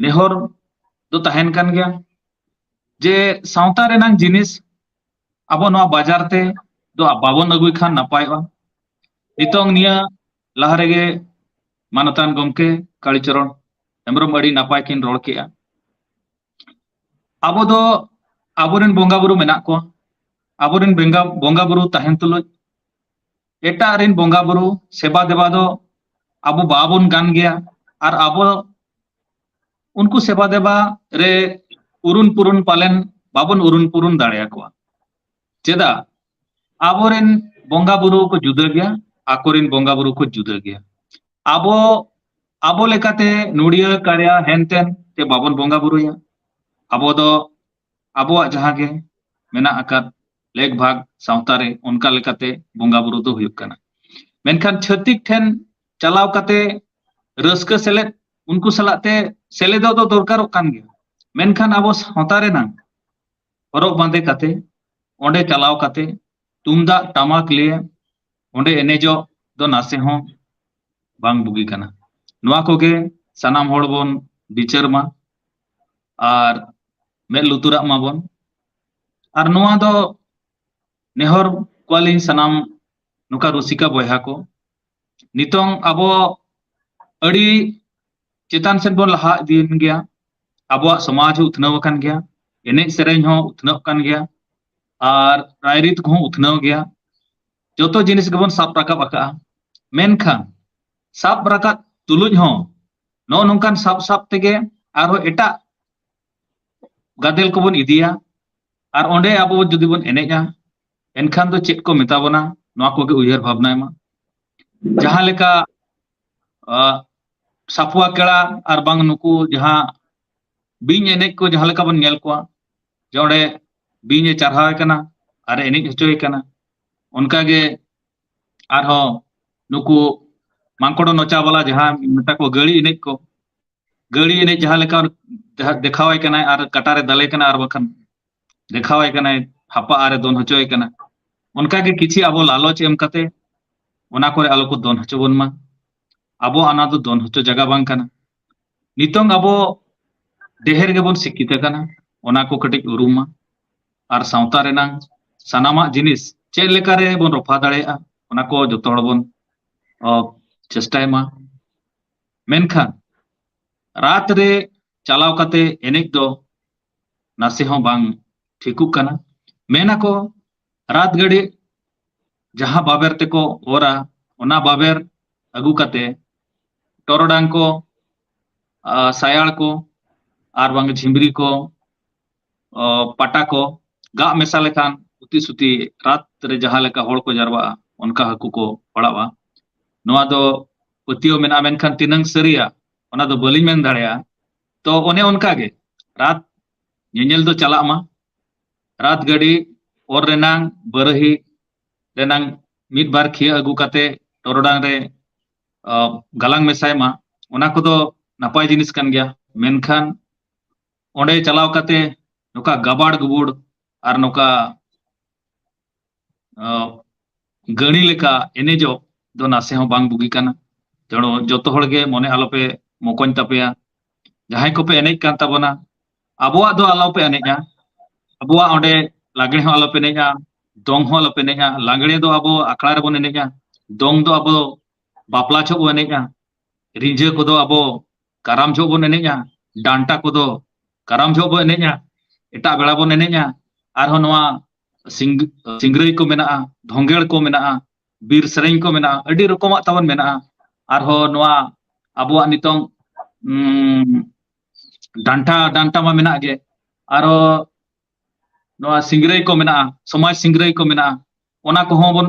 ᱱᱮᱦᱚᱨ ᱫᱚ ᱛᱟᱦᱮᱱ ᱠᱟᱱ ᱜᱮᱭᱟ ᱡᱮ ᱥᱟᱶᱛᱟ ᱨᱮᱱᱟᱝ ᱡᱤᱱᱤᱥ ᱟᱵᱚ ᱱᱚᱣᱟ ᱵᱟᱡᱟᱨ ᱛᱮ ᱫᱚ ᱵᱟᱵᱚᱱ ᱟᱹᱜᱩᱭ ᱠᱷᱟᱱ ᱱᱟᱯᱟᱭᱚᱜᱼᱟ ᱱᱤᱛᱚᱝ ᱱᱤᱭᱟᱹ ᱞᱟᱦᱟ ᱨᱮᱜᱮ ᱢᱟᱱᱚᱛᱟᱱ ᱜᱚᱢᱠᱮ ᱠᱟᱲᱤᱪᱚᱨᱚᱱ ᱦᱮᱢᱵᱨᱚᱢ ᱟᱹᱰᱤ ᱱᱟᱯᱟᱭ ᱠᱤᱱ ᱨᱚᱲ ᱠᱮᱜᱼᱟ ᱟᱵᱚ ᱫᱚ ᱟᱵᱚᱨᱮᱱ ᱵᱚᱸᱜᱟ ᱵᱩᱨᱩ ᱢᱮᱱᱟᱜ ᱠᱚᱣᱟ ᱟᱵᱚᱨᱮᱱ ᱵᱚᱸᱜᱟ ᱵᱚᱸᱜᱟ ᱵᱩᱨᱩ ᱛᱟᱦᱮᱱ ᱛᱩᱞᱩᱡ ᱮᱴᱟᱜ ᱨᱮᱱ ᱵᱚᱸᱜᱟ ᱵᱩᱨᱩ ᱥᱮᱵᱟ ᱫᱮᱵᱟ ᱫᱚ ᱟᱵᱚ ᱵᱟᱵᱚᱱ ᱜᱟᱱ ᱜᱮᱭᱟ ᱟᱨ ᱟᱵᱚ ᱩᱱᱠᱩ ᱥᱮᱵᱟ ᱫᱮᱵᱟ ᱨᱮ ᱩᱨᱩᱱ ᱯᱩᱨᱩᱱ ᱯᱟᱞᱮᱱ ᱵᱟᱵᱚᱱ ᱩᱨᱩᱱ ᱯᱩᱨᱩᱱ ᱫᱟᱲᱮᱭᱟᱠᱚᱣᱟ ᱪᱮᱫᱟᱜ ᱟᱵᱚᱨᱮᱱ ᱵᱚᱸᱜᱟ ᱵᱩᱨᱩ ᱠᱚ ᱡᱩᱫᱟᱹ ᱜᱮᱭᱟ ᱟᱠᱚᱨᱮᱱ ᱵᱚᱸᱜᱟ ᱵᱩᱨᱩ ᱠᱚ ᱡᱩᱫᱟᱹ ᱜᱮᱭᱟ ᱟᱵᱚ ᱟᱵᱚ ᱞᱮᱠᱟᱛᱮ ᱱᱩᱲᱤᱭᱟᱹ ᱠᱟᱲᱭᱟ ᱦᱮᱱᱛᱮᱱ ᱛᱮ ᱵᱟᱵᱚᱱ ᱵᱚᱸᱜᱟ ᱵᱩᱨᱩᱭᱟ ᱟᱵᱚ ᱫᱚ ᱟᱵᱚᱣᱟᱜ ᱡᱟᱦᱟᱸ ᱜᱮ ᱢᱮᱱᱟᱜ ᱟᱠᱟᱫ ᱞᱮᱠ ᱵᱷᱟᱜᱽ ᱥᱟᱶᱛᱟ ᱨᱮ ᱚᱱᱠᱟ ᱞᱮᱠᱟᱛᱮ ᱵᱚᱸᱜᱟ ᱵᱩᱨᱩ ᱫᱚ ᱦᱩᱭᱩᱜ ᱠᱟᱱᱟ ᱢᱮᱱᱠᱷᱟᱱ ᱪᱷᱟᱹᱛᱤᱠ ᱴᱷᱮᱱ ᱪᱟᱞᱟᱣ ᱠᱟᱛᱮ ᱨᱟᱹᱥᱠᱟᱹ ᱥᱮᱞᱮᱫ ᱩᱱᱠᱩ ᱥᱟᱞᱟᱜ ᱛᱮ ᱥᱮᱞᱮᱫᱚᱜ ᱫᱚ ᱫᱚᱨᱠᱟᱨᱚᱜ ᱠᱟᱱ ᱜᱮᱭᱟ ᱢᱮᱱᱠᱷᱟᱱ ᱟᱵᱚ ᱥᱟᱶᱛᱟ ᱨᱮᱱᱟᱜ ᱦᱚᱨᱚᱜ ᱵᱟᱸᱫᱮ ᱠᱟᱛᱮ ᱚᱸᱰᱮ ᱪᱟᱞᱟᱣ ᱠᱟᱛᱮ ᱛᱩᱢᱫᱟᱜ ᱴᱟᱢᱟᱠ ᱞᱤᱭᱮ ᱚᱸᱰᱮ ᱮᱱᱮᱡᱚᱜ ᱫᱚ ᱱᱟᱥᱮ ᱦᱚᱸ ᱵᱟᱝ ᱵᱩᱜᱤ ᱠᱟᱱᱟ ᱱᱚᱣᱟ ᱠᱚᱜᱮ ᱥᱟᱱᱟᱢ ᱦᱚᱲ ᱵᱚᱱ ᱵᱤᱪᱟᱹᱨ ᱢᱟ ᱟᱨ ᱢᱮᱫ ᱞᱩᱛᱩᱨᱟᱜ ᱢᱟᱵᱚᱱ ᱟᱨ ᱱᱚᱣᱟ ᱫᱚ ᱱᱮᱦᱚᱨ ᱠᱚᱣᱟᱞᱤᱧ ᱥᱟᱱᱟᱢ ᱱᱚᱝᱠᱟ ᱨᱩᱥᱤᱠᱟ ᱵᱚᱭᱦᱟ ᱠᱚ ᱱᱤᱛᱚᱝ ᱟᱵᱚ ᱟᱹᱰᱤ ᱪᱮᱛᱟᱱ ᱥᱮᱫ ᱵᱚᱱ ᱞᱟᱦᱟ ᱤᱫᱤᱭᱮᱱ ᱜᱮᱭᱟ ᱟᱵᱚᱣᱟᱜ ᱥᱚᱢᱟᱡᱽ ᱦᱚᱸ ᱩᱛᱱᱟᱹᱣ ᱟᱠᱟᱱ ᱜᱮᱭᱟ ᱮᱱᱮᱡ ᱥᱮᱨᱮᱧ ᱦᱚᱸ ᱩᱛᱱᱟᱹᱜ ᱠᱟᱱ ᱜᱮᱭᱟ ᱟᱨ ᱨᱟᱭᱨᱤᱛ ᱠᱚᱦᱚᱸ ᱩᱛᱱᱟᱹᱣ ᱜᱮᱭᱟ ᱡᱚᱛᱚ ᱡᱤᱱᱤᱥ ᱜᱮᱵᱚᱱ ᱥᱟᱵ ᱨᱟᱠᱟᱵ ᱟᱠᱟᱫᱼᱟ ᱢᱮᱱᱠᱷᱟᱱ ᱥᱟᱵ ᱨᱟᱠᱟᱵ ᱛᱩᱞᱩᱡ ᱦᱚᱸ ᱱᱚᱜᱼᱚ ᱱᱚᱝᱠᱟᱱ ᱥᱟᱵ ᱥᱟᱵ ᱛᱮᱜᱮ ᱟᱨᱦᱚᱸ ᱮᱴᱟᱜ ᱜᱟᱫᱮᱞ ᱠᱚᱵᱚᱱ ᱤᱫᱤᱭᱟ ᱟᱨ ᱚᱸᱰᱮ ᱟᱵᱚ ᱡᱩᱫᱤ ᱵᱚᱱ ᱮᱱᱮᱡᱟ ᱮᱱᱠᱷᱟᱱ ᱫᱚ ᱪᱮᱫ ᱠᱚ ᱢᱮᱛᱟ ᱵᱚᱱᱟ ᱱᱚᱣᱟ ᱠᱚᱜᱮ ᱩᱭᱦᱟᱹᱨ ᱵᱷᱟᱵᱽᱱᱟᱭ ᱢᱟ ᱡᱟᱦᱟᱸ ᱞᱮᱠᱟ ᱥᱟᱯᱩᱣᱟ ᱠᱮᱲᱟ ᱟᱨ ᱵᱟᱝ ᱱᱩᱠᱩ ᱡᱟᱦᱟᱸ ᱵᱤᱧ ᱮᱱᱮᱡ ᱠᱚ ᱡᱟᱦᱟᱸ ᱞᱮᱠᱟ ᱵᱚᱱ ᱧᱮᱞ ᱠᱚᱣᱟ ᱡᱮ ᱚᱸᱰᱮ ᱵᱤᱧ ᱮ ᱪᱟᱨᱦᱟᱣ ᱮ ᱠᱟᱱᱟ ᱟᱨ ᱮ ᱮᱱᱮᱡ ᱦᱚᱪᱚᱭᱮ ᱠᱟᱱᱟ ᱚᱱᱠᱟᱜᱮ ᱟᱨᱦᱚᱸ ᱱᱩᱠᱩ ᱢᱟᱝᱠᱚᱲᱚ ᱱᱚᱪᱟ ᱵᱟᱞᱟ ᱡᱟᱦᱟᱸ ᱢᱮᱛᱟ ᱠᱚ ᱜᱟᱹᱲᱤ ᱮᱱᱮᱡ ᱠᱚ ᱜᱟᱹᱲᱤ ᱮᱱᱮᱡ ᱡᱟᱦᱟᱸ ᱞᱮᱠᱟ ᱡᱟᱦᱟᱸ ᱫᱮᱠᱷᱟᱣᱟᱭ ᱠᱟᱱᱟᱭ ᱟᱨ ᱠᱟᱴᱟᱨᱮ ᱫᱟᱞᱮ ᱠᱟᱱᱟ ᱟᱨ ᱵᱟᱠᱷᱟᱱ ᱫᱮᱠᱷᱟᱣᱟᱭ ᱠᱟᱱᱟᱭ ᱦᱟᱯᱟ ᱟᱨᱮ ᱫᱚᱱ ᱦᱚᱪᱚᱭᱮ ᱠᱟᱱᱟ ᱚᱱᱠᱟᱜᱮ ᱠᱤᱪᱷᱤ ᱟᱵᱚ ᱞᱟᱞᱚᱪ ᱮᱢ ᱠᱟᱛᱮ ᱚᱱᱟ ᱠᱚᱨᱮ ᱟᱞᱚ ᱠᱚ ᱫᱚᱱ ᱦᱚᱪᱚ ᱵᱚᱱ ᱢᱟ ᱟᱵᱚ ᱚᱱᱟ ᱫᱚ ᱫᱚᱱ ᱦᱚᱪᱚ ᱡᱟᱭᱜᱟ ᱵᱟᱝ ᱠᱟᱱᱟ ᱱᱤᱛᱚᱝ ᱟᱵᱚ ᱰᱮᱦᱮᱨ ᱜᱮᱵᱚᱱ ᱥᱤᱠᱠᱷᱤᱛ ᱟᱠᱟᱱᱟ ᱚᱱᱟ ᱠᱚ ᱠᱟᱹᱴᱤᱡ ᱩᱨᱩᱢ ᱢᱟ ᱟᱨ ᱥᱟᱶᱛᱟ ᱨᱮᱱᱟᱝ ᱥᱟᱱᱟᱢᱟᱜ ᱡᱤᱱᱤᱥ ᱪᱮᱫ ᱞᱮᱠᱟ ᱨᱮ ᱵᱚᱱ ᱨᱚᱯᱷᱟ ᱫᱟᱲᱮᱭᱟᱜᱼᱟ ᱚᱱᱟ ᱠᱚ ᱡᱚᱛᱚ ᱦᱚᱲ ᱵᱚᱱ ᱪᱮᱥᱴᱟᱭ ᱢᱟ ᱢᱮᱱᱠᱷᱟᱱ ᱨᱟᱛ ᱨᱮ ᱪᱟᱞᱟᱣ ᱠᱟᱛᱮ ᱮᱱᱮᱡ ᱫᱚ ᱱᱟᱥᱮ ᱦᱚᱸ ᱵᱟᱝ ᱴᱷᱤᱠᱩᱜ ᱠᱟᱱᱟ ᱢᱮᱱ ᱟᱠᱚ ᱨᱟᱛ ᱜᱟᱹᱰᱤ ᱡᱟᱦᱟᱸ ᱵᱟᱵᱮᱨ ᱛᱮᱠᱚ ᱚᱨᱟ ᱚᱱᱟ ᱵᱟᱵᱮᱨ ᱟᱹᱜᱩ ᱠᱟᱛᱮ ᱴᱚᱨᱚᱰᱟᱝ ᱠᱚ ᱥᱟᱭᱟᱲ ᱠᱚ ᱟᱨ ᱵᱟᱝ ᱡᱷᱤᱢᱨᱤ ᱠᱚ ᱯᱟᱴᱟ ᱠᱚ ᱜᱟᱜ ᱢᱮᱥᱟ ᱞᱮᱠᱷᱟᱱ ᱩᱛᱤ ᱥᱩᱛᱤ ᱨᱟᱛ ᱨᱮ ᱡᱟᱦᱟᱸ ᱞᱮᱠᱟ ᱦᱚᱲ ᱠᱚ ᱡᱟᱨᱣᱟᱜᱼᱟ ᱚᱱᱠᱟ ᱦᱟᱹᱠᱩ ᱠᱚ ᱯᱟᱲᱟᱜᱼᱟ ᱱᱚᱣᱟ ᱫᱚ ᱯᱟᱹᱛᱭᱟᱹᱣ ᱢᱮᱱᱟᱜᱼᱟ ᱢᱮᱱᱠᱷᱟᱱ ᱛᱤᱱᱟᱹᱝ ᱥᱟᱹᱨᱤᱭᱟ ᱚᱱᱟ ᱫᱚ ᱵᱟᱹᱞᱤᱧ ᱢᱮᱱ ᱫᱟᱲᱮᱭᱟᱜᱼᱟ ᱛᱚ ᱚᱱᱮ ᱚᱱᱠᱟ ᱜᱮ ᱨᱟᱛ ᱧᱮᱧᱮᱞ ᱫᱚ ᱪᱟᱞᱟᱜ ᱢᱟ ᱨᱟᱛ ᱜᱟᱹᱰᱤ ᱚᱨ ᱨᱮᱱᱟᱝ ᱵᱟᱹᱨᱟᱹᱦᱤ ᱨᱮᱱᱟᱝ ᱢᱤᱫ ᱵᱟᱨ ᱠᱷᱤᱭᱟᱹ ᱟᱹᱜᱩ ᱠᱟᱛᱮ ᱴᱚᱨᱚᱰᱟᱝ ᱨᱮ ᱜᱟᱞᱟᱝ ᱢᱮᱥᱟᱭ ᱢᱟ ᱚᱱᱟ ᱠᱚᱫᱚ ᱱᱟᱯᱟᱭ ᱡᱤᱱᱤᱥ ᱠᱟᱱ ᱜᱮᱭᱟ ᱢᱮᱱᱠᱷᱟᱱ ᱚᱸᱰᱮ ᱪᱟᱞᱟᱣ ᱠᱟᱛᱮ ᱱᱚᱝᱠᱟ ᱜᱟᱵᱟᱲ ᱜᱩᱵᱩᱲ ᱟᱨ ᱱᱚᱝᱠᱟ ᱜᱟᱹᱲᱤ ᱞᱮᱠᱟ ᱮᱱᱮᱡᱚᱜ ᱫᱚ ᱱᱟᱥᱮ ᱦᱚᱸ ᱵᱟᱝ ᱵᱩᱜᱤ ᱠᱟᱱᱟ ᱛᱮᱲᱚ ᱡᱚᱛᱚ ᱦᱚᱲ ᱜᱮ ᱢᱚᱱᱮ ᱟᱞᱚᱯᱮ ᱢᱚᱠᱚᱧ ᱛᱟᱯᱮᱭᱟ ᱡᱟᱦᱟᱸᱭ ᱠᱚᱯᱮ ᱮᱱᱮᱡ ᱠᱟᱱ ᱛᱟᱵᱚᱱᱟ ᱟᱵᱚᱣᱟᱜ ᱫᱚ ᱟᱞᱚᱯᱮ ᱮᱱᱮᱡᱼᱟ ᱟᱵᱚᱣᱟᱜ ᱚᱸᱰᱮ ᱞᱟᱜᱽᱲᱮ ᱦᱚᱸ ᱟᱞᱚᱯᱮ ᱮᱱᱮᱡᱼᱟ ᱫᱚᱝ ᱦᱚᱸ ᱟᱞᱚᱯᱮ ᱮᱱᱮᱡᱼᱟ ᱞᱟᱜᱽᱲᱮ ᱫᱚ ᱟᱵᱚ ᱟᱠᱷᱲᱟ ᱨᱮᱵᱚᱱ ᱮᱱᱮᱡᱼᱟ ᱫᱚᱝ ᱫᱚ ᱟᱵᱚ ᱵᱟᱯᱞᱟ ᱡᱚᱦᱚᱜ ᱵᱚᱱ ᱮᱱᱮᱡᱼᱟ ᱨᱤᱸᱡᱷᱟᱹ ᱠᱚᱫᱚ ᱟᱵᱚ ᱠᱟᱨᱟᱢ ᱡᱚᱦᱚᱜ ᱵᱚᱱ ᱮᱱᱮᱡᱼᱟ ᱰᱟᱱᱴᱟ ᱠᱚᱫᱚ ᱠᱟᱨᱟᱢ ᱡᱚᱦᱚᱜ ᱵᱚᱱ ᱮᱱᱮᱡᱼᱟ ᱮᱴᱟᱜ ᱵᱮᱲᱟ ᱵᱚᱱ ᱮᱱᱮᱡᱼᱟ ᱟᱨᱦᱚᱸ ᱱᱚᱣᱟ ᱥᱤᱝ ᱥᱤᱝᱨᱟᱹᱭ ᱠᱚ ᱢᱮᱱᱟᱜᱼᱟ ᱫᱷᱚᱝᱜᱮᱲ ᱠᱚ ᱢᱮᱱᱟᱜᱼᱟ ᱵᱤᱨ ᱥᱮᱨᱮᱧ ᱠᱚ ᱢᱮᱱᱟᱜᱼᱟ ᱟᱹᱰᱤ ᱨᱚᱠᱚᱢᱟᱜ ᱛᱟᱵᱚᱱ ᱢᱮᱱᱟᱜᱼᱟ ᱟᱨᱦᱚᱸ ᱱᱚᱣᱟ ᱟᱵᱚᱣᱟᱜ ᱱᱤᱛᱚᱝ ᱰᱟᱱᱴᱟ ᱰᱟᱱᱴᱟ ᱢᱟ ᱢᱮᱱᱟᱜ ᱜᱮ ᱟᱨᱚ ᱱᱚᱣᱟ ᱥᱤᱝᱨᱟᱹᱭ ᱠᱚ ᱢᱮᱱᱟᱜᱼᱟ ᱥᱚᱢᱟᱡᱽ ᱥᱤᱝᱨᱟᱹᱭ ᱠᱚ ᱢᱮᱱᱟᱜᱼᱟ ᱚᱱᱟ ᱠᱚᱦᱚᱸ ᱵᱚᱱ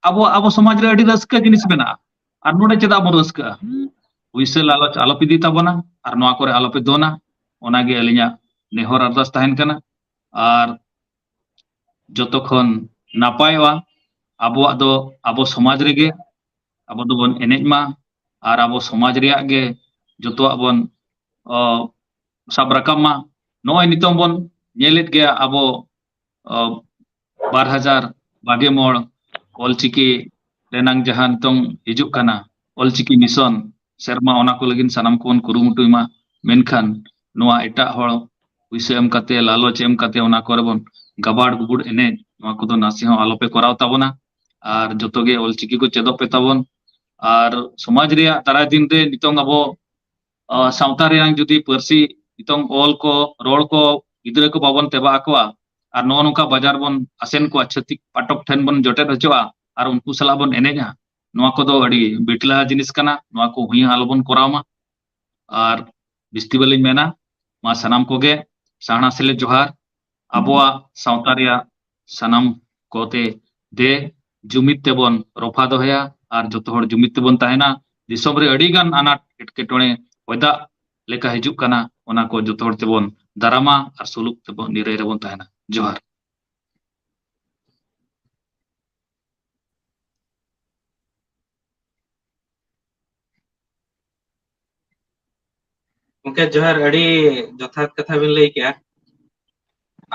ᱟᱵᱚ ᱟᱵᱚ ᱥᱚᱢᱟᱡᱽ ᱨᱮ ᱟᱹᱰᱤ ᱨᱟᱹᱥᱠᱟᱹ ᱡᱤᱱᱤᱥ ᱢᱮᱱᱟᱜᱼᱟ ᱟᱨ ᱱᱚᱰᱮ ᱪᱮᱫᱟᱜ ᱵᱚᱱ ᱨᱟᱹᱥᱠᱟᱹᱜᱼᱟ ᱩᱭᱥᱟᱹ ᱞᱟᱞᱚᱪ ᱟᱞᱚᱯᱮ ᱤᱫᱤ ᱛᱟᱵᱚᱱᱟ ᱟᱨ ᱱᱚᱣᱟ ᱠᱚᱨᱮ ᱟᱞᱚᱯᱮ ᱫᱚᱱᱟ ᱚᱱᱟᱜᱮ ᱟᱹᱞᱤᱧᱟᱜ ᱱᱮᱦᱚᱨ ᱟᱨᱫᱟᱥ ᱛᱟᱦᱮᱱ ᱠᱟᱱᱟ ᱟᱨ ᱡᱚᱛᱚ ᱠᱷᱚᱱ ᱱᱟᱯᱟᱭᱚᱜᱼᱟ ᱟᱵᱚᱣᱟᱜ ᱫᱚ ᱟᱵᱚ ᱥᱚᱢᱟᱡᱽ ᱨᱮᱜᱮ ᱟᱵᱚ ᱫᱚᱵᱚᱱ ᱮᱱᱮᱡ ᱢᱟ ᱟᱨ ᱟᱵᱚ ᱥᱚᱢᱟᱡᱽ ᱨᱮᱭᱟᱜ ᱜᱮ ᱡᱚᱛᱚᱣᱟᱜ ᱵᱚᱱ ᱥᱟᱵ ᱨᱟᱠᱟᱵ ᱢᱟ ᱱᱚᱜᱼᱚᱭ ᱱᱤᱛᱚᱝ ᱵᱚᱱ ᱧᱮᱞᱮᱫ ᱜᱮᱭᱟ ᱟᱵᱚ ᱵᱟᱨ ᱦᱟᱡᱟᱨ ᱵᱟᱜᱮ ᱢᱚᱬ ᱚᱞᱪᱤᱠᱤ ᱨᱮᱱᱟᱝ ᱡᱟᱦᱟᱸ ᱱᱤᱛᱚᱝ ᱦᱤᱡᱩᱜ ᱠᱟᱱᱟ ᱚᱞᱪᱤᱠᱤ ᱢᱤᱥᱚᱱ ᱥᱮᱨᱢᱟ ᱚᱱᱟ ᱠᱚ ᱞᱟᱹᱜᱤᱫ ᱥᱟᱱᱟᱢ ᱠᱚᱵᱚᱱ ᱠᱩᱨᱩᱢᱩᱴᱩᱭ ᱢᱟ ᱢᱮᱱᱠᱷᱟᱱ ᱱᱚᱣᱟ ᱮᱴᱟᱜ ᱦᱚᱲ ᱯᱩᱭᱥᱟᱹ ᱮᱢ ᱠᱟᱛᱮ ᱞᱟᱞᱚᱪ ᱮᱢ ᱠᱟᱛᱮ ᱚᱱᱟ ᱠᱚᱨᱮ ᱵᱚᱱ ᱜᱟᱵᱟᱲ ᱜᱩᱵᱩᱲ ᱮᱱᱮᱡ ᱱᱚᱣᱟ ᱠᱚᱫᱚ ᱱᱟᱥᱮ ᱦᱚᱸ ᱟᱞᱚᱯᱮ ᱠᱚᱨᱟᱣ ᱛᱟᱵᱚᱱᱟ ᱟᱨ ᱡᱚᱛᱚ ᱜᱮ ᱚᱞᱪᱤᱠᱤ ᱠᱚ ᱪᱮᱫᱚᱜ ᱯᱮ ᱛᱟᱵᱚᱱ ᱟᱨ ᱥᱚᱢᱟᱡᱽ ᱨᱮᱭᱟᱜ ᱫᱟᱨᱟᱭ ᱫᱤᱱ ᱨᱮ ᱱᱤᱛᱚᱝ ᱟᱵᱚ ᱥᱟᱶᱛᱟ ᱨᱮᱭᱟᱝ ᱡᱩᱫᱤ ᱯᱟᱹᱨᱥᱤ ᱱᱤᱛᱚᱝ ᱚᱞ ᱠᱚ ᱨᱚᱲ ᱠᱚ ᱜᱤᱫᱽᱨᱟᱹ ᱠᱚ ᱵᱟᱵᱚᱱ ᱛᱮᱵᱟ ᱟᱠᱚᱣᱟ ᱟᱨ ᱱᱚᱜᱼᱚ ᱱᱚᱝᱠᱟ ᱵᱟᱡᱟᱨ ᱵᱚᱱ ᱟᱥᱮᱱ ᱠᱚᱣᱟ ᱪᱷᱟᱹᱛᱤᱠ ᱯᱟᱴᱚᱠ ᱴᱷᱮᱱ ᱵᱚᱱ ᱡᱚᱴᱮᱫ ᱦᱚᱪᱚᱜᱼᱟ ᱟᱨ ᱩᱱᱠᱩ ᱥᱟᱞᱟᱜ ᱵᱚᱱ ᱮᱱᱮᱡᱟ ᱱᱚᱣᱟ ᱠᱚᱫᱚ ᱟᱹᱰᱤ ᱵᱤᱴᱞᱟ ᱡᱤᱱᱤᱥ ᱠᱟᱱᱟ ᱱᱚᱣᱟ ᱠᱚ ᱦᱩᱭ ᱦᱚᱸ ᱟᱞᱚᱵᱚᱱ ᱠᱚᱨᱟᱣ ᱢᱟ ᱟᱨ ᱵᱤᱥᱛᱤ ᱵᱟᱹᱞᱤᱧ ᱢᱮᱱᱟ ᱢᱟ ᱥᱟᱱᱟᱢ ᱠᱚᱜᱮ ᱥᱟᱦᱱᱟ ᱥᱮᱞᱮᱫ ᱡᱚᱦᱟᱨ ᱟᱵᱚᱣᱟᱜ ᱥᱟᱶᱛᱟ ᱨᱮᱭᱟᱜ ᱥᱟᱱᱟᱢ ᱠᱚᱛᱮ ᱫᱮ ᱡᱩᱢᱤᱫ ᱛᱮᱵᱚᱱ ᱨᱚᱯᱷᱟ ᱫᱚᱦᱚᱭᱟ ᱟᱨ ᱡᱚᱛᱚ ᱦᱚᱲ ᱡᱩᱢᱤᱫ ᱛᱮᱵᱚᱱ ᱛᱟᱦᱮᱱᱟ ᱫᱤᱥᱚᱢ ᱨᱮ ᱟᱹᱰᱤ ᱜᱟᱱ ᱟᱱᱟᱴ ᱮᱴᱠᱮᱴᱚᱬᱮ ᱚᱭᱫᱟᱜ ᱞᱮᱠᱟ ᱦᱤᱡᱩᱜ ᱠᱟᱱᱟ ᱚᱱᱟ ᱠᱚ ᱡᱚᱛᱚ ᱦᱚᱲ ᱛᱮᱵᱚᱱ ᱫᱟᱨᱟᱢᱟ ᱟᱨ ᱥᱩᱞᱩᱠ ᱛᱮᱵᱚᱱ ᱱᱤᱨᱟᱹᱭ ᱨᱮᱵᱚᱱ ᱛᱟᱦᱮᱱᱟ ᱡᱚᱦᱟᱨ ᱜᱚᱝᱠᱮ ᱡᱚᱦᱟᱨ ᱟᱹᱰᱤ ᱡᱚᱛᱷᱟᱛ ᱠᱟᱛᱷᱟ ᱵᱤᱱ ᱞᱟᱹᱭ ᱠᱮᱜᱼᱟ᱾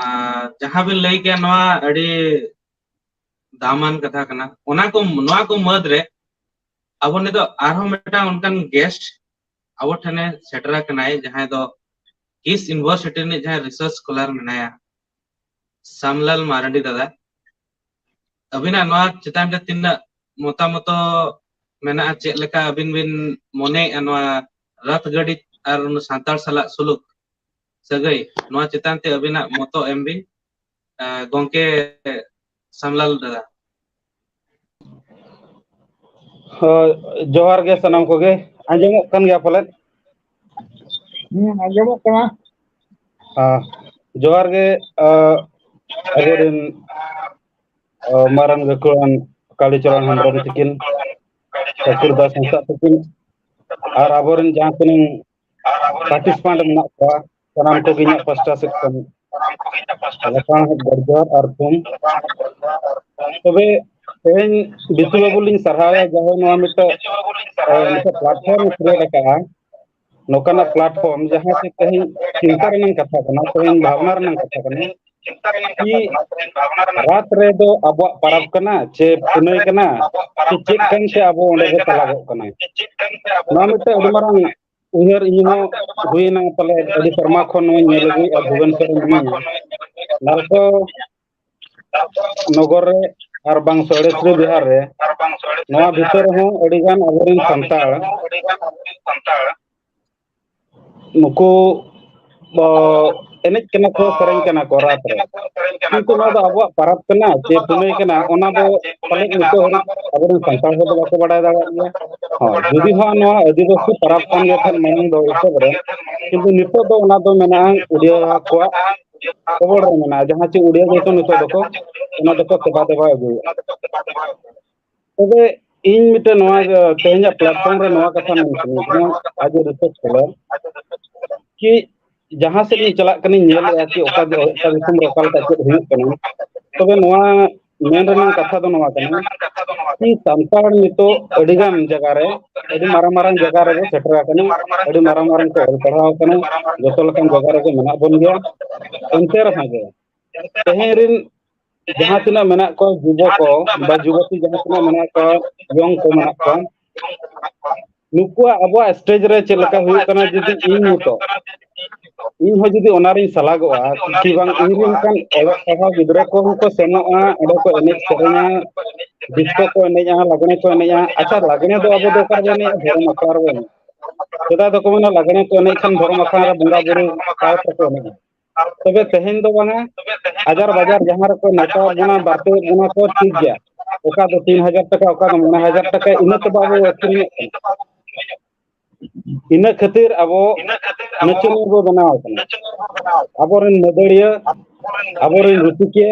ᱟᱨ ᱡᱟᱦᱟᱸ ᱵᱤᱱ ᱞᱟᱹᱭ ᱠᱮᱭᱟ ᱱᱚᱣᱟ ᱟᱹᱰᱤ ᱫᱟᱢᱟᱱ ᱠᱟᱛᱷᱟ ᱠᱟᱱᱟ ᱚᱱᱟ ᱠᱚ ᱱᱚᱣᱟ ᱠᱚ ᱢᱟᱹᱫᱽ ᱨᱮ ᱟᱵᱚ ᱱᱤᱛᱚᱜ ᱟᱨᱦᱚᱸ ᱢᱤᱫᱴᱟᱝ ᱚᱱᱠᱟᱱ ᱜᱮᱥᱴ ᱟᱵᱚ ᱴᱷᱮᱱᱮ ᱥᱮᱴᱮᱨ ᱟᱠᱟᱱᱟᱭ ᱡᱟᱦᱟᱸᱭ ᱫᱚ ᱠᱤᱥ ᱤᱱᱵᱷᱚᱨᱥᱤᱴᱤ ᱨᱤᱱᱤᱡ ᱡᱟᱦᱟᱸᱭ ᱨᱤᱥᱟᱨᱪ ᱥᱠᱚᱞᱟᱨ ᱢᱮᱱᱟᱭᱟ᱾ ᱥᱢᱞᱟᱞ ᱢᱟᱨᱰᱤ ᱫᱟᱫᱟ ᱟᱹᱵᱤᱱᱟᱜ ᱱᱚᱣᱟ ᱪᱮᱛᱟᱱ ᱨᱮ ᱛᱤᱱᱟᱹᱜ ᱢᱚᱛᱟ ᱢᱚᱛᱚ ᱢᱮᱱᱟᱜᱼᱟ ᱪᱮᱫ ᱞᱮᱠᱟ ᱟᱹᱵᱤᱱ ᱵᱤᱱ ᱢᱚᱱᱮᱭᱮᱫᱼᱟ ᱱᱚᱣᱟ ᱨᱟᱛ ᱜᱟᱹᱰᱤ ᱟᱨ ᱥᱟᱱᱛᱟᱲ ᱥᱟᱞᱟᱜ ᱥᱩᱞᱩᱠ ᱥᱟᱹᱜᱟᱹᱭ ᱱᱚᱣᱟ ᱪᱮᱛᱟᱱ ᱛᱮ ᱟᱹᱵᱤᱱᱟᱜ ᱢᱚᱛᱚ ᱮᱢ ᱵᱤᱱ ᱜᱚᱝᱠᱮ ᱥᱟᱢᱞᱟᱞ ᱫᱟᱫᱟ ᱦᱳᱭ ᱡᱚᱦᱟᱨ ᱜᱮ ᱥᱟᱱᱟᱢ ᱠᱚᱜᱮ ᱟᱸᱡᱚᱢᱚᱜ ᱠᱟᱱ ᱜᱮᱭᱟ ᱯᱟᱞᱮᱫ ᱦᱮᱸ ᱟᱸᱡᱚᱢᱚᱜ ᱠᱟᱱᱟ ᱦᱮᱸ ᱡᱚᱦᱟᱨ ᱜᱮ ᱟᱵᱚᱨᱮᱱ ᱢᱟᱨᱟᱝ ᱜᱟᱹᱠᱷᱩᱲᱟᱱ ᱠᱟᱞᱤᱪᱚᱨᱚᱱ ᱦᱮᱢᱵᱨᱚᱢ ᱛᱤᱠᱤᱱ ᱠᱟᱹᱯᱤᱞ ᱫᱟᱥ ᱦᱟᱸᱥᱫᱟ ᱛᱤᱠᱤᱱ ᱟᱨ ᱟᱵᱚᱨᱮᱱ ᱡᱟᱦᱟᱸ ᱛᱤᱱᱟᱹᱝ ᱯᱟᱴᱤᱥᱯᱮᱱᱴ ᱢᱮᱱᱟᱜ ᱠᱚᱣᱟ ᱥᱟᱱᱟᱢ ᱠᱚᱜᱮ ᱤᱧᱟᱹᱜ ᱯᱟᱥᱴᱟ ᱥᱮᱫ ᱠᱷᱚᱱ ᱞᱟᱯᱷᱟᱝ ᱡᱚᱦᱟᱨ ᱟᱨ ᱛᱷᱩᱢ ᱛᱚᱵᱮ ᱛᱮᱦᱮᱧ ᱵᱤᱥᱩ ᱵᱟᱹᱵᱩ ᱞᱤᱧ ᱥᱟᱨᱦᱟᱣᱮᱭᱟ ᱡᱟᱦᱟᱸᱭ ᱱᱚᱣᱟ ᱢᱤᱫᱴᱮᱱ ᱢᱤᱫᱴᱮᱱ ᱯᱞᱟᱴᱯᱷᱚᱨᱢ ᱠᱷᱩᱞᱟᱹᱣ ᱟᱠᱟᱫᱼᱟ ᱱᱚᱝᱠᱟᱱᱟᱜ ᱯᱞᱟᱴᱯᱷᱚᱨᱢ ᱡᱟᱦᱟᱸ ᱛᱮ ᱛᱮᱦᱮᱧ ᱪᱤᱱᱛᱟ ᱨᱮᱱᱟᱜ ᱠᱟᱛᱷᱟ ᱠᱟᱱᱟ ᱛᱮᱦᱮᱧ ᱵᱷᱟᱵᱽᱱᱟ ᱨᱮᱱᱟᱜ ᱠᱟᱛᱷᱟ ᱠᱟᱱᱟ ᱨᱟᱛ ᱨᱮᱫᱚ ᱟᱵᱚᱣᱟᱜ ᱯᱟᱨᱟᱵᱽ ᱠᱟᱱᱟ ᱪᱮ ᱯᱩᱱᱟᱹᱭ ᱠᱟᱱᱟ ᱪᱮ ᱪᱮᱫ ᱠᱟᱱ ᱪᱮ ᱟᱵᱚ ᱚᱸᱰᱮ ᱵᱚ ᱪᱟᱞᱟᱜᱚᱜ ᱠᱟᱱᱟ ᱱᱚᱣᱟ ᱢᱤᱫᱴᱮᱱ ᱟᱹᱰᱤ ᱢᱟᱨᱟᱝ ᱩᱭᱦᱟᱹᱨ ᱤᱧ ᱦᱚᱸ ᱦᱩᱭᱱᱟ ᱯᱟᱞᱮ ᱟᱹᱰᱤ ᱥᱮᱨᱢᱟ ᱠᱷᱚᱱ ᱱᱚᱣᱟᱧ ᱧᱮᱞ ᱟᱹᱜᱩᱭᱮᱫᱼᱟ ᱵᱷᱩᱵᱚᱱ ᱥᱚᱨ ᱢᱤᱱᱟᱹᱧᱟ ᱱᱟᱞᱠᱚ ᱱᱚᱜᱚᱨ ᱨᱮ ᱟᱨ ᱵᱟᱝ ᱥᱚᱲᱮᱥᱨᱤ ᱵᱤᱦᱟᱨ ᱨᱮ ᱱᱚᱣᱟ ᱵᱷᱤᱛᱟᱹᱨ ᱨᱮᱦᱚᱸ ᱟᱹᱰᱤᱜᱟᱱ ᱟᱵᱚᱨᱮᱱ ᱥᱟᱱᱛᱟᱲ ᱱᱩᱠᱩ ᱫᱚ ᱮᱱᱮᱡ ᱠᱟᱱᱟ ᱠᱚ ᱥᱮᱨᱮᱧ ᱠᱟᱱᱟ ᱠᱚ ᱨᱟᱛ ᱨᱮ ᱠᱤᱱᱛᱩ ᱱᱚᱣᱟ ᱫᱚ ᱟᱵᱚᱣᱟᱜ ᱯᱟᱨᱟᱵᱽ ᱠᱟᱱᱟ ᱪᱮ ᱯᱩᱱᱟᱹᱭ ᱠᱟᱱᱟ ᱚᱱᱟ ᱫᱚ ᱯᱟᱞᱮᱫ ᱱᱤᱛᱚᱜ ᱦᱟᱹᱨᱤᱡ ᱟᱵᱚᱨᱮᱱ ᱥᱟᱱᱛᱟᱲ ᱦᱚᱲ ᱫᱚ ᱵᱟᱠᱚ ᱵᱟᱰᱟᱭ ᱫᱟᱲᱮᱭᱟᱜ ᱜᱮᱭᱟ ᱦᱳᱭ ᱡᱩᱫᱤ ᱦᱚᱸ ᱱᱚᱣᱟ ᱟᱹᱫᱤᱵᱟᱹᱥᱤ ᱯᱟᱨᱟᱵᱽ ᱠᱟᱱ ᱜᱮ ᱠᱷᱟᱱ ᱢᱟᱲᱟᱝ ᱫᱚ ᱮᱛᱚᱦᱚᱵ ᱨᱮ ᱠᱤᱱᱛᱩ ᱱᱤᱛᱚᱜ ᱫᱚ ᱚᱱᱟ ᱫᱚ ᱢᱮᱱᱟᱜᱼᱟ ᱩᱰᱤᱭᱟᱹ ᱠᱚᱣᱟᱜ ᱠᱷᱚᱵᱚᱨ ᱨᱮ ᱢᱮᱱᱟᱜᱼᱟ ᱡᱟᱦᱟᱸ ᱪᱮᱫ ᱩᱰᱤᱭᱟ ᱜᱮᱠᱚ ᱱᱤᱛᱚᱜ ᱫᱚᱠᱚ ᱚᱱᱟ ᱫᱚᱠᱚ ᱥᱮᱵᱟ ᱫᱮᱵᱟ ᱟᱹᱜᱩᱭᱮᱫᱼᱟ ᱛᱚᱵᱮ ᱤᱧ ᱢᱤᱫᱴᱮᱱ ᱱᱚᱣᱟ ᱛᱮᱦᱮᱧᱟᱜ ᱯᱞᱟᱴᱯᱷᱚᱨᱚᱢ ᱨᱮ ᱱᱚᱣᱟ ᱠᱟᱛᱷᱟ ᱢᱮᱱ ᱥᱟᱱᱟᱧ ᱠᱟᱱᱟ ᱟᱡ ᱮ ᱨᱤᱥᱟᱨᱪ ᱠᱟᱫᱟ ᱠᱤ ᱡᱟᱦᱟᱸ ᱥᱮᱫ ᱤᱧ ᱪᱟᱞᱟᱜ ᱠᱟᱱᱟᱧ ᱧᱮᱞᱮᱫᱼᱟ ᱠᱤ ᱚᱠᱟ ᱚᱠᱟ ᱫᱤᱥᱚᱢ ᱨᱮ ᱚᱠᱟ ᱞᱮᱠᱟ ᱪᱮᱫ ᱦᱩᱭᱩᱜ ᱠᱟᱱᱟ ᱛᱚᱵᱮ ᱱᱚᱣᱟ ᱢᱮᱱ ᱨᱮᱱᱟᱝ ᱠᱟᱛᱷᱟ ᱫᱚ ᱱᱚᱣᱟ ᱠᱟᱱᱟ ᱠᱤ ᱥᱟᱱᱛᱟᱲ ᱱᱤᱛᱚᱜ ᱟᱹᱰᱤ ᱜᱟᱱ ᱡᱟᱭᱜᱟ ᱨᱮ ᱟᱹᱰᱤ ᱢᱟᱨᱟᱝ ᱢᱟᱨᱟᱝ ᱡᱟᱭᱜᱟ ᱨᱮᱵᱚ ᱥᱮᱴᱮᱨ ᱟᱠᱟᱱᱟ ᱟᱹᱰᱤ ᱢᱟᱨᱟᱝ ᱢᱟᱨᱟᱝ ᱠᱚ ᱚᱞ ᱯᱟᱲᱦᱟᱣ ᱟᱠᱟᱱᱟ ᱡᱚᱛᱚ ᱞᱮᱠᱟᱱ ᱡᱟᱭᱜᱟ ᱨᱮᱜᱮ ᱢᱮᱱᱟᱜ ᱵᱚᱱ ᱜᱮᱭᱟ ᱮᱱᱛᱮ ᱨᱮᱦᱚᱸ ᱜᱮ ᱛᱮᱦᱮᱧ ᱨᱤᱱ ᱡᱟᱦᱟᱸ ᱛᱤᱱᱟᱹᱜ ᱢᱮᱱᱟᱜ ᱠᱚᱣᱟ ᱡᱩᱵᱚ ᱠᱚ ᱵᱟ ᱡᱩᱵᱚᱛᱤ ᱡᱟᱦᱟᱸ ᱛᱤᱱᱟᱹᱜ ᱢᱮᱱᱟᱜ ᱠᱚᱣᱟ ᱤᱭᱚᱝ ᱠᱚ ᱢᱮᱱᱟᱜ ᱠᱚᱣᱟ ᱱᱩᱠᱩᱣᱟᱜ ᱟᱵᱚᱣᱟᱜ ᱥᱴᱮᱡ ᱨᱮ ᱪᱮᱫ ᱞᱮᱠᱟ ᱦᱩᱭᱩᱜ ᱠᱟᱱᱟ ᱡᱩᱫᱤ ᱤᱧ ᱱᱤᱛᱚᱜ ᱤᱧ ᱦᱚᱸ ᱡᱩᱫᱤ ᱚᱱᱟ ᱨᱤᱧ ᱥᱟᱞᱟᱜᱚᱜᱼᱟ ᱠᱤ ᱵᱟᱝ ᱤᱧ ᱨᱮᱱ ᱚᱱᱠᱟᱱ ᱚᱞᱚᱜ ᱯᱟᱲᱦᱟᱣ ᱜᱤᱫᱽᱨᱟᱹ ᱠᱚᱦᱚᱸ ᱠᱚ ᱥᱮᱱᱚᱜᱼᱟ ᱚᱸᱰᱮ ᱠᱚ ᱮᱱᱮᱡ ᱥᱮᱨᱮᱧᱟ ᱰᱤᱥᱠᱳ ᱠᱚ ᱮᱱᱮᱡᱼᱟ ᱞᱟᱜᱽᱲᱮ ᱠᱚ ᱮᱱᱮᱡᱼᱟ ᱟᱪᱪᱷᱟ ᱞᱟᱜᱽᱲᱮ ᱫᱚ ᱟᱵᱚ ᱫᱚ ᱚᱠᱟ ᱨᱮᱵᱚ ᱮᱱᱮᱡᱼᱟ ᱫᱷᱚᱨᱚᱢ ᱟᱠᱷᱲᱟ ᱨᱮᱵᱚ ᱮᱱᱮᱡᱼᱟ ᱥᱮᱫᱟᱭ ᱫᱚᱠᱚ ᱢᱮᱱᱟ ᱞᱟᱜᱽᱲᱮ ᱠᱚ ᱮᱱᱮᱡ ᱠᱷᱟᱱ ᱫᱷᱚᱨᱚᱢ ᱟᱠᱷᱲᱟ ᱨᱮ ᱵᱚᱸᱜᱟ ᱵᱩᱨᱩ ᱥᱟᱶ ᱛᱮᱠᱚ ᱮᱱᱮᱡᱼᱟ ᱛᱚᱵᱮ ᱛᱮᱦᱮᱧ ᱫᱚ ᱵᱟᱝᱟ ᱦᱟᱡᱟᱨ ᱵᱟᱡᱟᱨ ᱡᱟᱦᱟᱸ ᱨᱮᱠᱚ ᱱᱮᱛᱟᱣ ᱵᱚᱱᱟ ᱵᱟᱨᱛᱤ ᱵᱚᱱᱟ ᱠᱚ ᱴᱷᱤᱠ ᱜᱮᱭᱟ ᱚᱠᱟ ᱫᱚ ᱛᱤᱱ ᱦᱟᱡᱟᱨ ᱴᱟᱠᱟ ᱚᱠᱟ ᱫᱚ ᱢᱚᱬᱮ ᱦᱟᱡᱟᱨ ᱴᱟᱠᱟ ᱤᱱᱟᱹ ᱛᱮ ᱵᱟᱵᱚ ᱟᱹᱠᱷᱨᱤᱧᱮᱫ ᱠᱟᱱᱟ ᱤᱱᱟᱹ ᱠᱷᱟᱹᱛᱤᱨ ᱟᱵᱚ ᱱᱟᱪᱚᱱᱤᱭᱟᱹ ᱵᱚ ᱵᱮᱱᱟᱣ ᱠᱟᱱᱟ ᱟᱵᱚᱨᱮᱱ ᱢᱟᱹᱫᱟᱹᱲᱤᱭᱟᱹ ᱟᱵᱚᱨᱮᱱ ᱨᱩᱥᱤᱠᱤᱭᱟᱹ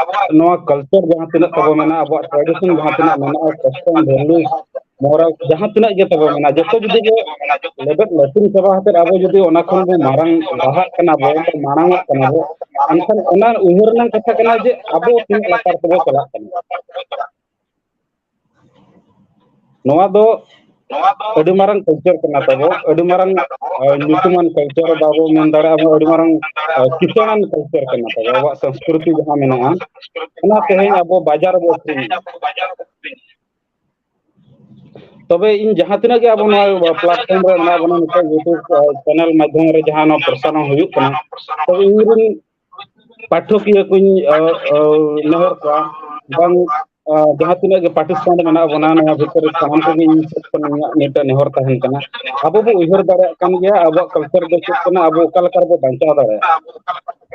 ᱟᱵᱚᱣᱟᱜ ᱱᱚᱣᱟ ᱠᱟᱞᱪᱟᱨ ᱡᱟᱦᱟᱸ ᱛᱤᱱᱟᱹᱜ ᱛᱟᱵᱚ ᱢᱮᱱᱟᱜᱼᱟ ᱟᱵᱚᱣᱟᱜ ᱴᱨᱟᱰᱤᱥᱚᱱ ᱡᱟᱦᱟᱸ ᱛᱤᱱᱟᱹᱜ ᱢᱮᱱᱟᱜᱼᱟ ᱠᱚᱥᱴᱚᱢ ᱵᱷᱮᱞᱩ ᱢᱚᱨᱟᱞ ᱡᱟᱦᱟᱸ ᱛᱤᱱᱟᱹᱜ ᱜᱮ ᱛᱟᱵᱚ ᱢᱮᱱᱟᱜᱼᱟ ᱡᱚᱛᱚ ᱡᱩᱫᱤ ᱜᱮ ᱞᱮᱵᱮᱫ ᱞᱟᱹᱴᱤᱝ ᱪᱟᱵᱟ ᱠᱟᱛᱮᱫ ᱟᱵᱚ ᱡᱩᱫᱤ ᱚᱱᱟ ᱠᱷᱚᱱ ᱵᱚ ᱢᱟᱨᱟᱝ ᱞᱟᱦᱟᱜ ᱠᱟᱱᱟ ᱵᱚ ᱢᱟᱲᱟᱝ ᱚᱜ ᱠᱟᱱᱟ ᱵᱚ ᱮᱱᱠᱷᱟᱱ ᱚᱱᱟ ᱩᱭᱦᱟᱹᱨ ᱨᱮᱱᱟᱝ ᱠᱟᱛᱷᱟ ᱠᱟᱱᱟ ᱡᱮ ᱟᱵᱚ ᱛᱤᱱᱟᱹᱜ ᱞᱟᱛᱟᱨ ᱛᱮᱵᱚ ᱪᱟᱞᱟᱜ ᱠᱟᱱᱟ ᱱᱚᱣᱟ ᱫᱚ ᱟᱹᱰᱤ ᱢᱟᱨᱟᱝ ᱠᱟᱞᱪᱟᱨ ᱠᱟᱱᱟ ᱛᱟᱵᱚ ᱟᱹᱰᱤ ᱢᱟᱨᱟᱝ ᱧᱩᱛᱩᱢᱟᱱ ᱠᱟᱞᱪᱟᱨ ᱵᱟᱵᱚ ᱢᱮᱱ ᱫᱟᱲᱮᱭᱟᱜᱼᱟ ᱟᱹᱰᱤ ᱢᱟᱨᱟᱝ ᱠᱤᱥᱟᱹᱬᱟᱱ ᱠᱟᱞᱪᱟᱨ ᱠᱟᱱᱟ ᱛᱟᱵᱚ ᱟᱵᱚᱣᱟᱜ ᱥᱚᱝᱥᱠᱨᱤᱛᱤ ᱡᱟᱦᱟᱸ ᱢᱮᱱᱟᱜᱼᱟ ᱚᱱᱟ ᱛᱮᱦᱮᱧ ᱟᱵᱚ ᱵᱟᱡᱟᱨ ᱨᱮᱵᱚ ᱟᱹᱠᱷᱨᱤᱧᱮᱫᱼᱟ ᱛᱚᱵᱮ ᱤᱧ ᱡᱟᱦᱟᱸ ᱛᱤᱱᱟᱹᱜ ᱜᱮ ᱟᱵᱚ ᱱᱚᱣᱟ ᱯᱞᱟᱴᱯᱷᱚᱨᱢ ᱨᱮ ᱢᱮᱱᱟᱜ ᱵᱚᱱᱟ ᱱᱤᱛᱚᱜ ᱤᱭᱩᱴᱩᱵᱽ ᱪᱮᱱᱮᱞ ᱢᱟᱫᱽᱫᱷᱚᱢ ᱨᱮ ᱡᱟᱦᱟᱸ ᱱᱚᱣᱟ ᱯᱨᱚᱥᱟᱨᱚᱱ ᱦᱩᱭᱩᱜ ᱠᱟᱱᱟ ᱛᱚᱵᱮ ᱤᱧᱨᱮᱱ ᱯᱟᱴᱷᱚᱠᱤᱭᱟᱹ ᱠᱩᱧ ᱱᱮᱦᱚᱨ ᱠᱚᱣᱟ ᱵᱟᱝ ᱡᱟᱦᱟᱸ ᱛᱤᱱᱟᱹᱜ ᱜᱮ ᱯᱟᱨᱴᱤᱥᱤᱯᱮᱱᱴ ᱢᱮᱱᱟᱜ ᱵᱚᱱᱟ ᱱᱚᱣᱟ ᱵᱷᱤᱛᱨᱤ ᱨᱮ ᱥᱟᱱᱟᱢ ᱠᱚᱜᱮ ᱤᱧ ᱥᱮᱫ ᱠᱷᱚᱱ ᱤᱧᱟᱹᱜ ᱢᱤᱫᱴᱮᱱ ᱱᱮᱦᱚᱨ ᱛᱟᱦᱮᱱ ᱠᱟᱱᱟ ᱟᱵᱚ ᱵᱚ ᱩᱭᱦᱟᱹᱨ ᱫᱟᱲᱮᱭᱟᱜ ᱠᱟᱱ ᱜᱮᱭᱟ ᱟᱵᱚᱣᱟᱜ ᱠᱟᱞᱪᱟᱨ ᱫᱚ ᱪᱮᱫ ᱠᱟᱱᱟ ᱟᱵᱚ ᱚᱠᱟ ᱞᱮᱠᱟ ᱨᱮᱵᱚ ᱵᱟᱧᱪᱟᱣ ᱫᱟᱲᱮᱭᱟᱜᱼᱟ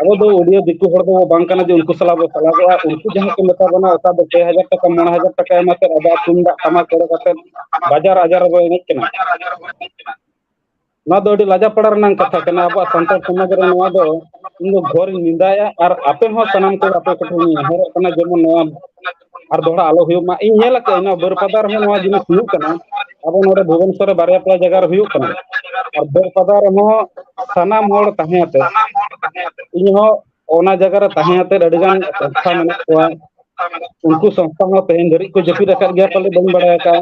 ᱟᱵᱚ ᱫᱚ ᱩᱰᱤᱭᱟᱹ ᱫᱤᱠᱩ ᱦᱚᱲ ᱫᱚ ᱵᱟᱝ ᱠᱟᱱᱟ ᱡᱮ ᱩᱱᱠᱩ ᱥᱟᱞᱟᱜ ᱵᱚ ᱥᱟᱞᱟᱜᱚᱜᱼᱟ ᱩᱱᱠᱩ ᱡᱟᱦᱟᱸ ᱠᱚ ᱢᱮᱛᱟ ᱵᱚᱱᱟ ᱚᱠᱟ ᱫᱚ ᱯᱮ ᱦᱟᱡᱟᱨ ᱴᱟᱠᱟ ᱢᱚᱬᱮ ᱦᱟᱡᱟᱨ ᱴᱟᱠᱟ ᱮᱢ ᱟᱛᱮᱫ ᱟᱵᱚᱣᱟᱜ ᱛᱩᱢᱫᱟᱜ ᱴᱟᱢᱟᱠ ᱠᱚᱨᱮ ᱠᱟᱛᱮᱫ ᱵᱟᱡᱟᱨ ᱟᱡᱟᱨ ᱨᱮᱵᱚ ᱮᱱᱮᱡ ᱠᱟᱱᱟ ᱱᱚᱣᱟ ᱫᱚ ᱟᱹᱰᱤ ᱞᱟᱡᱟ ᱯᱟᱲᱟ ᱨᱮᱱᱟᱝ ᱠᱟᱛᱷᱟ ᱠᱟᱱᱟ ᱟᱵᱚᱣᱟᱜ ᱥᱟᱱᱛᱟᱲ ᱥᱚᱢᱟᱡᱽ ᱨᱮ ᱱᱚᱣᱟ ᱫᱚ ᱤᱧ ᱫᱚ ᱜᱷᱚᱨᱤᱧ ᱱᱮᱸᱫᱟᱭᱟ ᱟᱨ ᱟᱯᱮ ᱦᱚᱸ ᱥᱟᱱᱟᱢ ᱠᱚ ᱟᱯᱮ ᱠᱚᱴᱷᱮᱱ ᱤᱧ ᱱᱮᱦᱚᱨᱚᱜ ᱠᱟᱱᱟ ᱡᱮᱢᱚᱱ ᱱᱚᱣᱟ ᱟᱨ ᱫᱚᱦᱲᱟ ᱟᱞᱚ ᱦᱩᱭᱩᱜ ᱢᱟ ᱤᱧ ᱧᱮᱞ ᱟᱠᱟᱫᱟᱹᱧ ᱱᱚᱣᱟ ᱵᱟᱹᱨᱯᱟᱫᱟ ᱨᱮᱦᱚᱸ ᱱᱚᱣᱟ ᱡᱤᱱᱤᱥ ᱦᱩᱭᱩᱜ ᱠᱟᱱᱟ ᱟᱵᱚ ᱱᱚᱰᱮ ᱵᱷᱩᱵᱚᱱᱮᱥᱚᱨ ᱨᱮ ᱵᱟᱨᱭᱟ ᱯᱮᱭᱟ ᱡᱟᱭᱜᱟ ᱨᱮ ᱦᱩᱭᱩᱜ ᱠᱟᱱᱟ ᱟᱨ ᱵᱟᱹᱨᱯᱟᱫᱟ ᱨᱮᱦᱚᱸ ᱥᱟᱱᱟᱢ ᱦᱚᱲ ᱛᱟᱦᱮᱸ ᱟᱛᱮ ᱤᱧᱦᱚᱸ ᱚᱱᱟ ᱡᱟᱭᱜᱟ ᱨᱮ ᱛᱟᱦᱮᱸ ᱟᱛᱮᱫ ᱟᱹᱰᱤ ᱜᱟᱱ ᱥᱚᱝᱥᱛᱷᱟ ᱢᱮᱱᱟᱜ ᱠᱚᱣᱟ ᱩᱱᱠᱩ ᱥᱚᱝᱥᱛᱷᱟ ᱦᱚᱸ ᱛᱮᱦᱮᱧ ᱫᱷᱟᱹᱨᱤᱡ ᱠᱚ ᱡᱟᱹᱯᱤᱫ ᱟᱠᱟᱫ ᱜᱮᱭᱟ ᱯᱟᱞᱮ ᱵᱟᱹᱧ ᱵᱟᱲᱟᱭ ᱟᱠᱟᱫᱼᱟ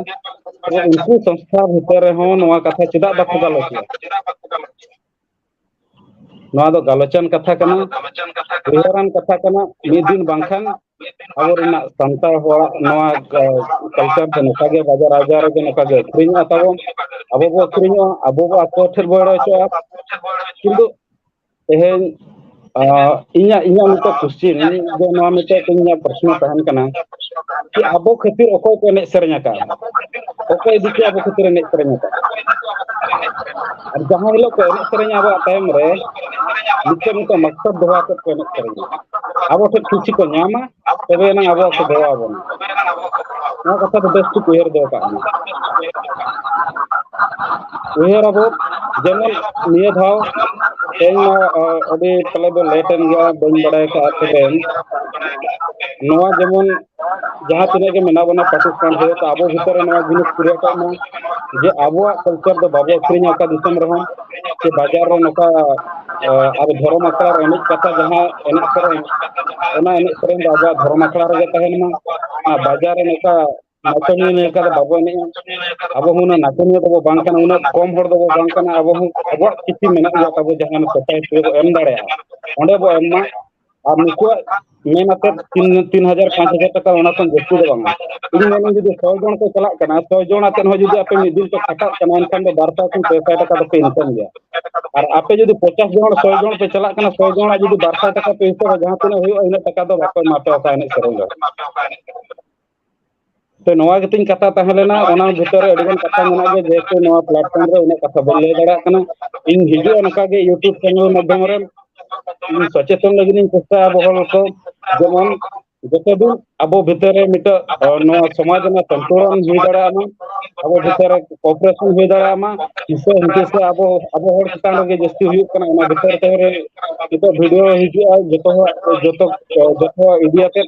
ᱛᱚᱵᱮ ᱩᱱᱠᱩ ᱥᱚᱝᱥᱛᱷᱟ ᱵᱷᱤᱛᱨᱤ ᱨᱮᱦᱚᱸ ᱱᱚᱣᱟ ᱠᱟᱛᱷᱟ ᱪᱮᱫᱟᱜ ᱵᱟᱠᱚ ᱜᱟᱞᱚᱪ ᱮᱫᱟ ᱱᱚᱣᱟ ᱫᱚ ᱜᱟᱞᱚᱪᱟᱱ ᱠᱟᱛᱷᱟ ᱠᱟᱱᱟ ᱩᱭᱦᱟᱹᱨᱟᱱ ᱠᱟᱛᱷᱟ ᱠᱟᱱᱟ ᱢᱤᱫ ᱫᱤᱱ ᱵᱟᱝᱠᱷᱟᱱ ᱟᱵᱚ ᱨᱮᱱᱟᱜ ᱥᱟᱱᱛᱟᱲ ᱦᱚᱲᱟᱜ ᱱᱚᱣᱟ ᱠᱟᱞᱪᱟᱨ ᱫᱚ ᱱᱚᱝᱠᱟ ᱜᱮ ᱵᱟᱡᱟᱨ ᱟᱡᱟᱨ ᱨᱮᱜᱮ ᱱᱚᱝᱠᱟ ᱜᱮ ᱟᱹᱠᱷᱨᱤᱧᱚᱜᱼᱟ ᱛᱟᱵᱚᱱ ᱟᱵᱚ ᱵᱚ ᱟᱹᱠᱷᱨᱤᱧᱚᱜᱼᱟ ᱟᱵᱚ ᱵᱚ ᱟᱠᱚ ᱴᱷᱮᱱ ᱵᱚ ᱮᱲᱮ ᱦᱚᱪᱚᱜᱼᱟ ᱠᱤᱱᱛᱩ ᱛᱮᱦᱮᱧ ᱟ ᱤᱧᱟᱹᱜ ᱤᱧᱟᱹᱜ ᱢᱤᱫᱴᱮᱱ ᱠᱚᱥᱪᱮᱱ ᱟᱫᱚ ᱱᱚᱣᱟ ᱢᱤᱫᱴᱮᱱ ᱤᱧᱟᱹᱜ ᱯᱨᱚᱥᱱᱚ ᱛᱟᱦᱮᱱ ᱠᱟᱱᱟ ᱠᱤ ᱟᱵᱚ ᱠᱷᱟᱹᱛᱤᱨ ᱚᱠᱚᱭ ᱠᱚ ᱮᱱᱮᱡ ᱥᱮᱨᱮᱧ ᱟᱠᱟᱫᱼᱟ ᱚᱠᱚᱭ ᱤᱫᱤ ᱠᱟᱛᱮ ᱟᱵᱚ ᱠᱷᱟᱹᱛᱤᱨ ᱮᱱᱮᱡ ᱥᱮᱨᱮᱧ ᱟᱠᱟᱫᱼᱟ ᱟᱨ ᱡᱟᱦᱟᱸ ᱦᱤᱞᱳᱜ ᱠᱚ ᱮᱱᱮᱡ ᱥᱮᱨᱮᱧᱟ ᱟᱵᱚᱣᱟᱜ ᱛᱟᱭᱚᱢ ᱨᱮ ᱢᱤᱫᱴᱮᱱ ᱢᱤᱫᱴᱮᱱ ᱢᱟᱥᱴᱟᱨ ᱫᱚᱦᱚ ᱟᱛᱮᱫ ᱠᱚ ᱮᱱᱮᱡ ᱥᱮᱨᱮᱧᱟ ᱟᱵᱚ ᱴᱷᱮᱱ ᱠᱩᱥᱤ ᱠᱚ ᱧᱟᱢᱟ ᱛᱚᱵᱮ ᱮᱱᱟᱝ ᱟᱵᱚᱣᱟᱜ ᱠᱚ ᱫᱮᱵᱟ ᱟᱵᱚᱱᱟ ᱱᱚᱣᱟ ᱠᱟᱛᱷᱟ ᱫᱚ ᱵᱮᱥ ᱴᱷᱤᱠ ᱩᱭᱦᱟᱹᱨ ᱫᱚᱦᱚ ᱠᱟᱜ ᱢᱮ ᱩᱭᱦᱟᱹᱨ ᱟᱵᱚ ᱡᱮᱢᱚᱱ ᱱᱤᱭᱟᱹ ᱫᱷᱟᱣ ᱛᱮᱦᱮᱧ ᱢᱟ ᱟᱹᱰᱤ ᱯᱟᱞᱮ ᱫᱚ ᱞᱮᱴ ᱮᱱ ᱜᱮᱭᱟ ᱵᱟᱹᱧ ᱵᱟᱲᱟᱭ ᱠᱟᱜᱼᱟ ᱛᱚᱵᱮ ᱱᱚᱣᱟ ᱡᱮᱢᱚᱱ ᱡᱟᱦᱟᱸ ᱛᱤᱱᱟᱹᱜ ᱜᱮ ᱢᱮᱱᱟᱜ ᱵᱚᱱᱟ ᱯᱟᱠᱤᱥᱛᱟᱱ ᱨᱮ ᱛᱚ ᱟᱵᱚ ᱵᱷᱤᱛᱚᱨ ᱨᱮ ᱱᱚᱣᱟ ᱡᱤᱱᱤᱥ ᱠᱨᱤᱭᱮᱴᱚᱜ ᱢᱟ ᱡᱮ ᱟᱵᱚᱣᱟᱜ ᱠᱟᱞᱪᱟᱨ ᱫᱚ ᱵᱟᱵᱚ ᱟᱹᱠᱷᱨᱤᱧᱟ ᱚᱠᱟ ᱫᱤᱥᱚᱢ ᱨᱮᱦᱚᱸ ᱥᱮ ᱵᱟᱡᱟᱨ ᱨᱮ ᱱᱚᱝᱠᱟ ᱟᱵᱚ ᱫᱷᱚᱨᱚᱢ ᱟᱠᱷᱲᱟ ᱨᱮ ᱮᱱᱮᱡ ᱠᱟᱛᱮ ᱡᱟᱦᱟᱸ ᱮᱱᱮᱡ ᱥᱮᱨᱮᱧ ᱚᱱᱟ ᱮᱱᱮᱡ ᱥᱮᱨᱮᱧ ᱫᱚ ᱟᱵᱚᱣᱟᱜ ᱫᱷᱚᱨᱚᱢ ᱟᱠᱷᱲᱟ ᱨᱮᱜᱮ ᱛᱟᱦᱮᱱ ᱢᱟ ᱟᱨ ᱵᱟᱡᱟᱨ ᱨᱮ ᱱᱚᱝᱠᱟ ᱱᱟᱪᱚᱱᱤᱭᱟᱹ ᱞᱮᱠᱟ ᱫᱚ ᱵᱟᱵᱚ ᱮᱱᱮᱡᱼᱟ ᱟᱵᱚ ᱦᱚᱸ ᱩᱱᱟᱹᱜ ᱱᱟᱪᱚᱱᱤᱭᱟᱹ ᱫᱚᱵᱚ ᱵᱟᱝ ᱠᱟᱱᱟ ᱩᱱᱟᱹᱜ ᱠᱚᱢ ᱦᱚᱲ ᱫᱚᱵᱚ ᱵᱟᱝ ᱠᱟᱱᱟ ᱟᱵᱚ ᱦᱚᱸ ᱟᱵᱚᱣᱟᱜ ᱠᱤᱪᱷᱩ ᱢᱮᱱᱟᱜ ᱜᱮᱭᱟ ᱛᱟᱵᱚ ᱡᱟᱦᱟᱸ ᱥᱳᱥᱟᱭᱴᱤ ᱨᱮᱵᱚ ᱮᱢ ᱫᱟᱲᱮᱭᱟᱜᱼᱟ ᱚᱸᱰᱮ ᱵᱚ ᱮᱢ ᱢᱟ ᱟᱨ ᱱᱩᱠᱩᱣᱟᱜ ᱢᱮᱱ ᱟᱛᱮᱫ ᱛᱤᱱ ᱛᱤᱱ ᱦᱟᱡᱟᱨ ᱯᱟᱸᱪ ᱦᱟᱡᱟᱨ ᱴᱟᱠᱟ ᱚᱱᱟ ᱠᱷᱚᱱ ᱡᱟᱹᱥᱛᱤ ᱫᱚ ᱵᱟᱝᱟ ᱤᱧ ᱢᱮᱱᱟᱹᱧ ᱡᱩᱫᱤ ᱥᱚ ᱡᱚᱱ ᱠᱚ ᱪᱟᱞᱟᱜ ᱠᱟᱱᱟ ᱥᱚ ᱡᱚᱱ ᱟᱛᱮᱫ ᱦᱚᱸ ᱡᱩᱫᱤ ᱟᱯᱮ ᱢᱤᱫ ᱫᱤᱱ ᱯᱮ ᱠᱷᱟᱴᱟᱜ ᱠᱟᱱᱟ ᱮᱱᱠᱷᱟᱱ ᱫᱚ ᱵᱟᱨ ᱥᱟᱭ ᱠᱷᱚᱱ ᱯᱮ ᱥᱟᱭ ᱴᱟᱠᱟ ᱫᱚᱯᱮ ᱤᱱᱠᱟᱢ ᱜᱮᱭᱟ ᱟᱨ ᱟᱯᱮ ᱡᱩᱫᱤ ᱯᱚᱪᱟᱥ ᱡᱚᱱ ᱥᱚ ᱡᱚᱱ ᱯᱮ ᱪᱟᱞᱟᱜ ᱠᱟᱱᱟ ᱥᱚ ᱡᱚᱱᱟᱜ ᱡᱩᱫᱤ ᱵᱟᱨ ᱥᱟᱭ ᱴᱟᱠᱟ ᱯᱮ ᱦᱤᱥᱟᱹᱵᱟ ᱡᱟᱦᱟᱸ ᱛᱤᱱᱟᱹᱜ ᱦᱩᱭᱩᱜᱼᱟ ᱤᱱᱟᱹᱜ ᱴᱟᱠᱟ ᱫᱚ ᱵᱟᱠᱚ ᱮᱢᱟ ᱯᱮᱭᱟ ᱚᱠᱟ ᱮᱱᱮᱡ ᱥᱮᱨᱮᱧ ᱫᱚ ᱛᱚ ᱱᱚᱣᱟ ᱜᱮᱛᱤᱧ ᱠᱟᱛᱷᱟ ᱛᱟᱦᱮᱸ ᱞᱮᱱᱟ ᱚᱱᱟ ᱵᱷᱤᱛᱚᱨ ᱨᱮ ᱟᱹᱰᱤᱜᱟᱱ ᱠᱟᱛᱷᱟ ᱢᱮᱱᱟᱜ ᱜᱮᱭᱟ ᱡᱮᱦᱮᱛᱩ ᱱᱚᱣᱟ ᱯᱞᱟᱴᱯᱷᱚᱨᱢ ᱨᱮ ᱩᱱᱟᱹᱜ ᱠᱟᱛᱷᱟ ᱵᱟᱹᱧ ᱞᱟᱹᱭ ᱫᱟᱲᱮᱭᱟᱜ ᱠᱟᱱᱟ ᱤᱧ ᱦᱤᱡᱩᱜᱼᱟ ᱱᱚᱝᱠᱟ ᱜᱮ ᱤᱭᱩᱴᱩᱵᱽ ᱪᱮᱱᱮᱞ ᱢᱟᱫᱽᱫᱷᱚᱢ ᱨᱮ ᱤᱧ ᱥᱚᱪᱮᱛᱚᱱ ᱞᱟᱹᱜᱤᱫ ᱤᱧ ᱪᱮᱥᱴᱟᱭᱟ ᱟᱵᱚ ᱦᱚᱲ ᱠᱚ ᱡᱮᱢᱚᱱ ᱡᱚᱛᱚ ᱫᱤᱱ ᱟᱵᱚ ᱵᱷᱤᱛᱨᱤ ᱨᱮ ᱱᱤᱛᱚᱜ ᱱᱚᱣᱟ ᱥᱚᱢᱟᱡᱽ ᱨᱮᱱᱟᱜ ᱥᱚᱱᱛᱩᱞᱚᱱ ᱦᱩᱭ ᱫᱟᱲᱮᱭᱟᱜ ᱢᱟ ᱟᱵᱚ ᱵᱷᱤᱛᱨᱤ ᱨᱮ ᱠᱚᱯᱨᱮᱥᱚᱱ ᱦᱩᱭ ᱫᱟᱲᱮᱭᱟᱜ ᱢᱟ ᱦᱤᱥᱟᱹ ᱦᱩᱫᱤᱥᱟ ᱟᱵᱚ ᱟᱵᱚ ᱦᱚᱲ ᱪᱮᱛᱟᱱ ᱨᱮᱜᱮ ᱡᱟᱹᱥᱛᱤ ᱦᱩᱭᱩᱜ ᱠᱟᱱᱟ ᱚᱱᱟ ᱵᱷᱤᱛᱟᱹᱨ ᱛᱮ ᱨᱮ ᱱᱤᱛᱚᱜ ᱵᱷᱤᱰᱭᱳ ᱦᱤᱡᱩᱜᱼᱟ ᱡᱚᱛᱚ ᱦᱚᱲᱟᱜ ᱡᱚᱛᱚ ᱡᱚᱛᱚ ᱤᱫᱤᱭᱟᱛᱮᱫ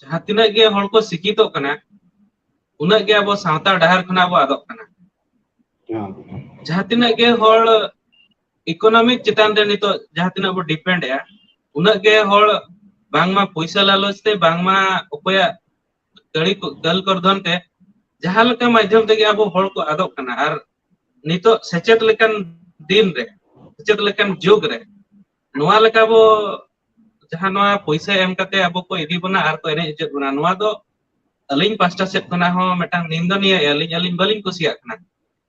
ᱡᱟᱦᱟᱸ ᱛᱤᱱᱟᱹᱜ ᱜᱮ ᱦᱚᱲ ᱠᱚ ᱥᱤᱠᱠᱷᱤᱛᱚᱜ ᱠᱟᱱᱟ ᱩᱱᱟᱹᱜ ᱜᱮ ᱟᱵᱚ ᱥᱟᱶᱛᱟ ᱰᱟᱦᱟᱨ ᱠᱷᱚᱱᱟᱜ ᱵᱚ ᱟᱫᱚᱜ ᱠᱟᱱᱟ᱾ ᱡᱟᱦᱟᱸ ᱛᱤᱱᱟᱹᱜ ᱜᱮ ᱦᱚᱲ ᱤᱠᱳᱱᱚᱢᱤᱠ ᱪᱮᱛᱟᱱ ᱨᱮ ᱱᱤᱛᱚᱜ ᱡᱟᱦᱟᱸ ᱛᱤᱱᱟᱹᱜ ᱵᱚ ᱰᱤᱯᱮᱱᱰ ᱮᱼᱟ ᱩᱱᱟᱹᱜ ᱜᱮ ᱦᱚᱲ ᱵᱟᱝᱢᱟ ᱯᱚᱭᱥᱟ ᱞᱟᱞᱚᱪ ᱛᱮ ᱵᱟᱝᱢᱟ ᱚᱠᱚᱭᱟᱜ ᱠᱟᱹᱲᱤ ᱠᱚ ᱫᱟᱹᱞ ᱠᱚᱨᱫᱷᱚᱱ ᱛᱮ ᱡᱟᱦᱟᱸ ᱞᱮᱠᱟ ᱢᱟᱫᱽᱫᱷᱚᱢ ᱛᱮᱜᱮ ᱟᱵᱚ ᱦᱚᱲ ᱠᱚ ᱟᱫᱚᱜ ᱠᱟᱱᱟ ᱟᱨ ᱱᱤᱛᱚᱜ ᱥᱮᱪᱮᱫ ᱞᱮᱠᱟᱱ ᱫᱤᱱ ᱨᱮ ᱥᱮᱪᱮᱫ ᱞᱮᱠᱟᱱ ᱡᱩᱜᱽ ᱨᱮ ᱱᱚᱣᱟ ᱞᱮᱠᱟ ᱵᱚ ᱡᱟᱦᱟᱸ ᱱᱚᱣᱟ ᱯᱩᱭᱥᱟᱹ ᱮᱢ ᱠᱟᱛᱮ ᱟᱵᱚ ᱠᱚ ᱤᱫᱤ ᱵᱚᱱᱟ ᱟᱨ ᱠᱚ ᱮᱱᱮᱡ ᱦᱚᱪᱚᱭᱮᱫ ᱵᱚᱱᱟ ᱱᱚᱣᱟ ᱫᱚ ᱟᱹᱞᱤᱧ ᱯᱟᱥᱴᱟ ᱥᱮᱫ ᱠᱷᱚᱱᱟᱜ ᱦᱚᱸ ᱢᱤᱫᱴᱟᱝ ᱱᱤᱱᱫᱚ ᱱᱤᱭᱟᱹ ᱟᱹᱞᱤᱧ ᱟᱹᱞᱤᱧ ᱵᱟᱹᱞᱤᱧ ᱠᱩᱥᱤᱭᱟᱜ ᱠᱟᱱᱟ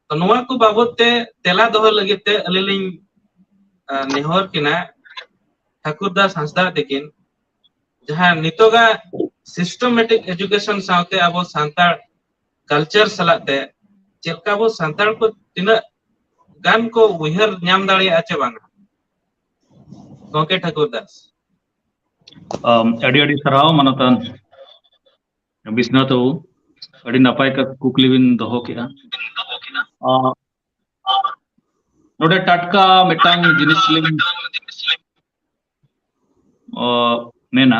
ᱛᱚ ᱱᱚᱣᱟ ᱠᱚ ᱵᱟᱵᱚᱛ ᱛᱮ ᱛᱮᱞᱟ ᱫᱚᱦᱚ ᱞᱟᱹᱜᱤᱫ ᱛᱮ ᱟᱹᱞᱤᱧ ᱞᱤᱧ ᱱᱮᱦᱚᱨ ᱠᱤᱱᱟ ᱴᱷᱟᱠᱩᱨ ᱫᱟᱥ ᱦᱟᱸᱥᱫᱟ ᱛᱤᱠᱤᱱ ᱡᱟᱦᱟᱸ ᱱᱤᱛᱚᱜᱟᱜ ᱥᱤᱥᱴᱚᱢᱮᱴᱤᱠ ᱮᱡᱩᱠᱮᱥᱚᱱ ᱥᱟᱶᱛᱮ ᱟᱵᱚ ᱥᱟᱱᱛᱟᱲ ᱠᱟᱞᱪᱟᱨ ᱥᱟᱞᱟᱜ ᱛᱮ ᱪᱮᱫᱠᱟ ᱵᱚ ᱥᱟᱱᱛᱟᱲ ᱠᱚ ᱛᱤᱱᱟᱹᱜ ᱜᱟᱱ ᱠᱚ ᱩᱭᱦᱟᱹᱨ ᱧᱟᱢ ᱫᱟᱲᱮᱭᱟᱜᱼᱟ ᱪᱮ ᱵᱟᱝᱟ ᱜᱚᱝᱠᱮ ᱴᱷᱟᱠᱩᱨ ᱫᱟᱥ ᱟᱢ ᱟᱹᱰᱤ ᱟᱹᱰᱤ ᱥᱟᱨᱦᱟᱣ ᱢᱟᱱᱚᱛᱟᱱ ᱵᱤᱥᱱᱟᱛᱷ ᱵᱟᱵᱩ ᱟᱹᱰᱤ ᱱᱟᱯᱟᱭ ᱠᱟ ᱠᱩᱠᱞᱤ ᱵᱤᱱ ᱫᱚᱦᱚ ᱠᱮᱜᱼᱟ ᱟ ᱱᱚᱰᱮ ᱴᱟᱴᱠᱟ ᱢᱤᱫᱴᱟᱝ ᱡᱤᱱᱤᱥ ᱞᱤᱧ ᱚ ᱢᱮᱱᱟ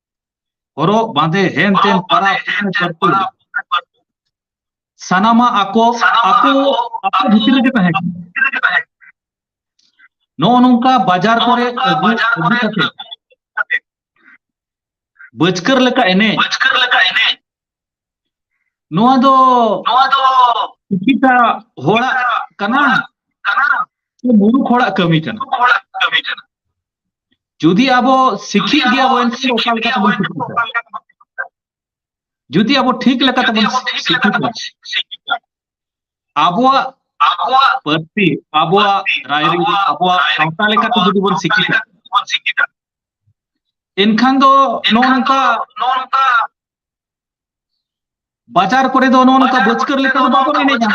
ᱦᱚᱨᱚᱜ ᱵᱟᱸᱫᱮ ᱦᱮᱱ ᱛᱮᱱ ᱯᱟᱨᱟᱵᱽ ᱥᱟᱱᱟᱢᱟᱜ ᱟᱠᱚ ᱟᱠᱚ ᱟᱠᱚ ᱵᱷᱤᱛᱤᱨ ᱨᱮᱜᱮ ᱛᱟᱦᱮᱸ ᱠᱟᱱᱟ ᱱᱚᱜᱼᱚ ᱱᱚᱝᱠᱟ ᱵᱟᱡᱟᱨ ᱠᱚᱨᱮ ᱟᱹᱜᱩ ᱟᱹᱜᱩ ᱠᱟᱛᱮ ᱵᱟᱹᱪᱠᱟᱹᱨ ᱞᱮᱠᱟ ᱮᱱᱮᱡ ᱱᱚᱣᱟ ᱫᱚ ᱱᱚᱣᱟ ᱫᱚ ᱠᱤᱪᱷᱩᱴᱟ ᱦᱚᱲᱟᱜ ᱠᱟᱱᱟ ᱠᱟᱱᱟ ᱥᱮ ᱢᱩᱨᱩᱠ ᱦᱚᱲᱟᱜ ᱠᱟᱹᱢᱤ ᱠᱟᱱᱟ ᱦᱚᱲᱟᱜ ᱠᱟᱹᱢᱤ ᱠᱟᱱᱟ ᱡᱩᱫᱤ ᱟᱵᱚ ᱥᱤᱠᱷᱤᱛ ᱜᱮᱭᱟ ᱵᱚᱱ ᱮᱱᱠᱷᱟᱱ ᱚᱠᱟ ᱞᱮᱠᱟ ᱛᱮᱵᱚᱱ ᱥᱤᱠᱷᱤᱛᱟ ᱡᱩᱫᱤ ᱟᱵᱚ ᱴᱷᱤᱠ ᱞᱮᱠᱟ ᱛᱮᱵᱚᱱ ᱥᱤᱠᱷᱤᱛᱟ ᱟᱵᱚᱣᱟᱜ ᱟᱵᱚᱣᱟᱜ ᱯᱟᱹᱨᱥᱤ ᱟᱵᱚᱣᱟᱜ ᱨᱟᱭᱨᱤᱛ ᱟᱵᱚᱣᱟᱜ ᱥᱟᱶᱛᱟ ᱞᱮᱠᱟᱛᱮ ᱡᱩᱫᱤ ᱵᱚᱱ ᱥᱤᱠᱷᱤᱛᱟ ᱮᱱᱠᱷᱟᱱ ᱫᱚ ᱱᱚᱜᱼᱚ ᱱᱚᱝᱠᱟ ᱱᱚᱜᱼᱚ ᱱᱚᱝᱠᱟ ᱵᱟᱡᱟᱨ ᱠᱚᱨᱮ ᱫᱚ ᱱᱚᱜᱼᱚ ᱱᱚᱝᱠᱟ ᱵᱟᱹᱪᱠᱟᱹᱨ ᱞᱮᱠᱟ ᱫᱚ ᱵᱟᱵᱚᱱ ᱮᱱᱮᱡᱟ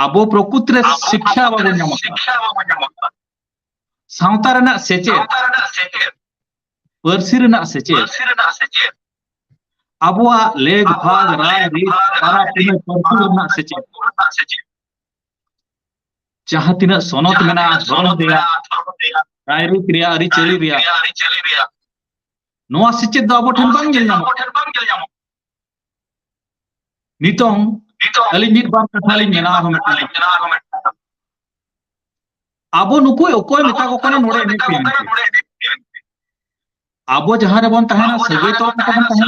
ᱟᱵᱚ ᱯᱨᱚᱠᱩᱛ ᱨᱮ ᱥᱤᱠᱠᱷᱟ ᱵᱟᱵᱚᱱ ᱧᱟᱢ ᱟᱠᱟᱫᱟ ᱥᱟᱶᱛᱟ ᱨᱮᱱᱟᱜ ᱥᱮᱪᱮᱫ ᱯᱟᱹᱨᱥᱤ ᱨᱮᱱᱟᱜ ᱥᱮᱪᱮᱫ ᱟᱵᱚᱣᱟᱜ ᱞᱮᱜ ᱵᱷᱟᱜ ᱨᱟᱭ ᱨᱤᱛ ᱯᱟᱨᱟ ᱯᱩᱱᱟᱹᱭ ᱯᱟᱹᱨᱥᱤ ᱨᱮᱱᱟᱜ ᱥᱮᱪᱮᱫ ᱡᱟᱦᱟᱸ ᱛᱤᱱᱟᱹᱜ ᱥᱚᱱᱚᱛ ᱢᱮᱱᱟᱜᱼᱟ ᱫᱷᱚᱨᱚᱢ ᱨᱮᱭᱟᱜ ᱨᱟᱭᱨᱤᱛ ᱨᱮᱭᱟᱜ ᱟᱹᱨᱤᱪᱟᱹᱞᱤ ᱨᱮᱭᱟᱜ ᱱᱚᱣᱟ ᱥᱮᱪᱮᱫ ᱫᱚ ᱟᱵᱚ ᱴᱷᱮᱱ ᱵᱟᱝ ᱧᱮᱞ ᱧᱟᱢᱚᱜ ᱱᱤᱛᱚᱝ ᱟᱹᱞᱤᱧ ᱢᱤᱫ ᱵᱟᱨ ᱠᱟᱛᱷᱟ ᱞᱤᱧ ᱢᱮᱱᱟ ᱟᱨᱦᱚᱸ ᱢᱤᱫᱴᱟᱝ ᱟᱵᱚ ᱱᱩᱠᱩ ᱚᱠᱚᱭ ᱢᱮᱛᱟ ᱠᱚ ᱠᱟᱱᱟ ᱱᱚᱰᱮ ᱮᱱᱮᱡ ᱯᱮ ᱟᱵᱚ ᱡᱟᱦᱟᱸ ᱨᱮᱵᱚᱱ ᱛᱟᱦᱮᱱᱟ ᱥᱟᱹᱜᱟᱹᱭ ᱛᱚᱞ ᱠᱟᱛᱮ ᱵᱚᱱ ᱛᱟᱦᱮᱱᱟ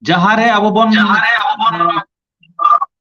ᱡᱟᱦᱟᱸ ᱨᱮ ᱟᱵᱚ ᱵᱚᱱ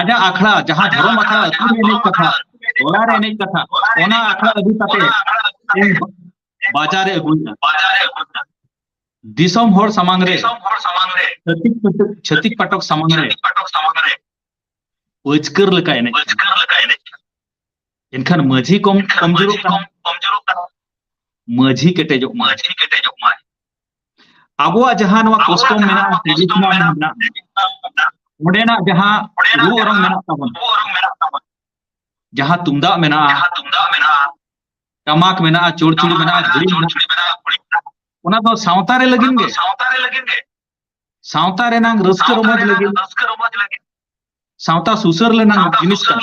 ᱟᱡᱟᱜ ᱟᱠᱷᱲᱟ ᱡᱟᱦᱟᱸ ᱫᱷᱚᱨᱚᱢ ᱟᱠᱷᱲᱟ ᱟᱹᱛᱩ ᱨᱮ ᱮᱱᱮᱡ ᱠᱟᱛᱷᱟ ᱴᱚᱞᱟ ᱨᱮ ᱮᱱᱮᱡ ᱠᱟᱛᱷᱟ ᱚᱱᱟ ᱟᱠᱷᱲᱟ ᱟᱹᱜᱩ ᱠᱟᱛᱮ ᱤᱧ ᱵᱟᱡᱟᱨ ᱨᱮ ᱟᱹᱜᱩᱭᱮᱫᱟ ᱫᱤᱥᱚᱢ ᱦᱚᱲ ᱥᱟᱢᱟᱝ ᱨᱮ ᱪᱷᱟᱹᱛᱤᱠ ᱯᱟᱴᱚᱠ ᱪᱷᱟᱹᱛᱤᱠ ᱯᱟᱴᱚᱠ ᱥᱟᱢᱟᱝ ᱨᱮ ᱯᱟᱹᱪᱠᱟᱹᱨ ᱞᱮᱠᱟ ᱮᱱᱮᱡ ᱮᱱᱠᱷᱟᱱ ᱢᱟᱹᱡᱷᱤ ᱠᱚᱢ ᱠᱚᱢᱡᱳᱨᱚᱜ ᱠᱟᱱᱟ ᱢᱟᱹᱡᱷᱤ ᱠᱮᱴᱮᱡᱚᱜ ᱢᱟᱹᱡᱷᱤ ᱠᱮᱴᱮᱡᱚᱜ ᱢᱟᱹᱡᱷᱤ ᱟᱵᱚᱣᱟᱜ ᱡᱟᱦᱟᱸ ᱱᱚᱣᱟ ᱠᱚᱥᱴᱚᱢ ᱢᱮᱱᱟᱜᱼᱟ ᱴᱨᱮᱰᱤᱥᱚᱱᱟᱞ ᱢᱮᱱᱟᱜᱼᱟ ᱚᱸᱰᱮᱱᱟᱜ ᱡᱟᱦᱟᱸ ᱨᱩ ᱚᱨᱚᱝ ᱢᱮᱱᱟᱜ ᱛᱟᱵᱚᱱᱟ ᱡᱟᱦᱟᱸ ᱛᱩᱢᱫᱟᱜ ᱢᱮᱱᱟᱜᱼᱟ ᱴᱟᱢᱟᱠ ᱢᱮᱱᱟᱜᱼᱟ ᱪᱚᱲᱪᱩᱲᱤ ᱢᱮᱱᱟᱜᱼᱟ ᱜᱷᱩᱲᱤ ᱢᱮᱱᱟᱜᱼᱟ ᱚᱱᱟ ᱫᱚ ᱥᱟᱶᱛᱟ ᱨᱮ ᱞᱟᱹᱜᱤᱫ ᱜᱮ ᱥᱟᱶᱛᱟ ᱨᱮ ᱞᱟᱹᱜᱤᱫ ᱜᱮ ᱥᱟᱶᱛᱟ ᱨᱮᱱᱟᱝ ᱨᱟᱹᱥᱠᱟᱹ ᱨᱚᱢᱚᱡᱽ ᱞᱟᱹᱜᱤᱫ ᱨᱟᱹᱥᱠᱟᱹ ᱨᱚᱢᱚᱡᱽ ᱞᱟᱹᱜᱤᱫ ᱥᱟᱶᱛᱟ ᱥᱩᱥᱟᱹᱨ ᱞᱮᱱᱟᱝ ᱡᱤᱱᱤᱥ ᱠᱟᱱᱟ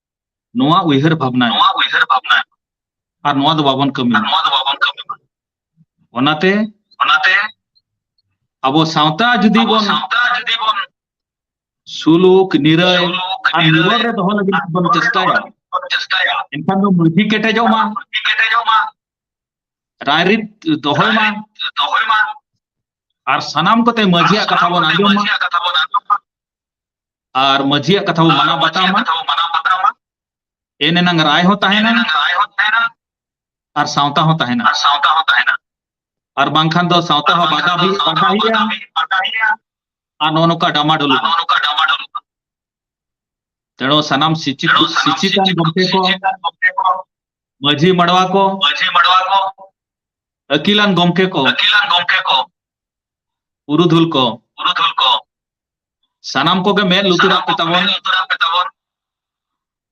ᱱᱚᱣᱟ ᱩᱭᱦᱟᱹᱨ ᱵᱷᱟᱵᱽᱱᱟ ᱱᱚᱣᱟ ᱩᱭᱦᱟᱹᱨ ᱵᱷᱟᱵᱽᱱᱟ ᱟᱨ ᱱᱚᱣᱟ ᱫᱚ ᱵᱟᱵᱚᱱ ᱠᱟᱹᱢᱤ ᱱᱚᱣᱟ ᱫᱚ ᱵᱟᱵᱚᱱ ᱠᱟᱹᱢᱤ ᱚᱱᱟᱛᱮ ᱚᱱᱟᱛᱮ ᱟᱵᱚ ᱥᱟᱶᱛᱟ ᱡᱩᱫᱤ ᱵᱚᱱ ᱥᱟᱶᱛᱟ ᱡᱩᱫᱤ ᱵᱚᱱ ᱥᱩᱞᱩᱠ ᱱᱤᱨᱟᱹᱭ ᱟᱨ ᱱᱤᱨᱟᱹᱭ ᱨᱮ ᱫᱚᱦᱚ ᱞᱟᱹᱜᱤᱫ ᱵᱚᱱ ᱪᱮᱥᱴᱟᱭᱟ ᱪᱮᱥᱴᱟᱭᱟ ᱮᱱᱠᱷᱟᱱ ᱫᱚ ᱢᱟᱹᱡᱷᱤ ᱠᱮᱴᱮᱡᱚᱜ ᱢᱟ ᱢᱟᱹᱡᱷᱤ ᱠᱮᱴᱮᱡᱚᱜ ᱢᱟ ᱨᱟᱭᱨᱤᱛ ᱫᱚᱦᱚᱭ ᱢᱟ ᱫᱚᱦᱚᱭ ᱢᱟ ᱟᱨ ᱥᱟᱱᱟᱢ ᱠᱚᱛᱮ ᱢᱟᱹᱡᱷᱤᱭᱟᱜ ᱠᱟᱛᱷᱟ ᱵᱚᱱ ᱟᱸᱡᱚᱢ ᱢᱟ ᱟᱨ ᱢᱟᱹᱡᱷᱤᱭᱟᱜ ᱠᱟᱛᱷᱟ ᱵᱚ ᱢᱟᱱᱟᱣ ᱵᱟᱛᱟᱣᱟ ᱮᱱ ᱮᱱᱟᱝ ᱨᱟᱭ ᱦᱚᱸ ᱛᱟᱦᱮᱱᱟ ᱟᱨ ᱥᱟᱶᱛᱟ ᱦᱚᱸ ᱛᱟᱦᱮᱱᱟ ᱟᱨ ᱥᱟᱶᱛᱟ ᱦᱚᱸ ᱛᱟᱦᱮᱱᱟ ᱟᱨ ᱵᱟᱝᱠᱷᱟᱱ ᱫᱚ ᱥᱟᱶᱛᱟ ᱦᱚᱸ ᱵᱟᱫᱷᱟ ᱦᱩᱭᱩᱜᱼᱟ ᱟᱨ ᱱᱚᱜᱼᱚ ᱱᱚᱝᱠᱟ ᱰᱟᱢᱟᱰᱳᱞ ᱱᱚᱜᱼᱚ ᱱᱚᱝᱠᱟ ᱰᱟᱢᱟᱰᱳᱞ ᱛᱮᱬᱚ ᱥᱟᱱᱟᱢ ᱥᱤᱪᱤᱛ ᱥᱤᱪᱤᱛᱟᱱ ᱜᱚᱢᱠᱮ ᱠᱚ ᱢᱟᱹᱡᱷᱤ ᱢᱟᱰᱣᱟ ᱠᱚ ᱢᱟᱹᱡᱷᱤ ᱢᱟᱰᱣᱟ ᱠᱚ ᱟᱹᱠᱤᱞᱟᱱ ᱜᱚᱢᱠᱮ ᱠᱚ ᱟᱹᱠᱤᱞᱟᱱ ᱜᱚᱢᱠᱮ ᱠᱚ ᱯᱩᱨᱩᱫᱷᱩᱞ ᱠᱚ ᱯᱩᱨᱩᱫᱷᱩᱞ ᱠᱚ ᱥᱟᱱᱟᱢ ᱠᱚᱜᱮ ᱢᱮᱫ ᱞᱩᱛᱩᱨᱟᱜ ᱯᱮ ᱛᱟᱵᱚᱱ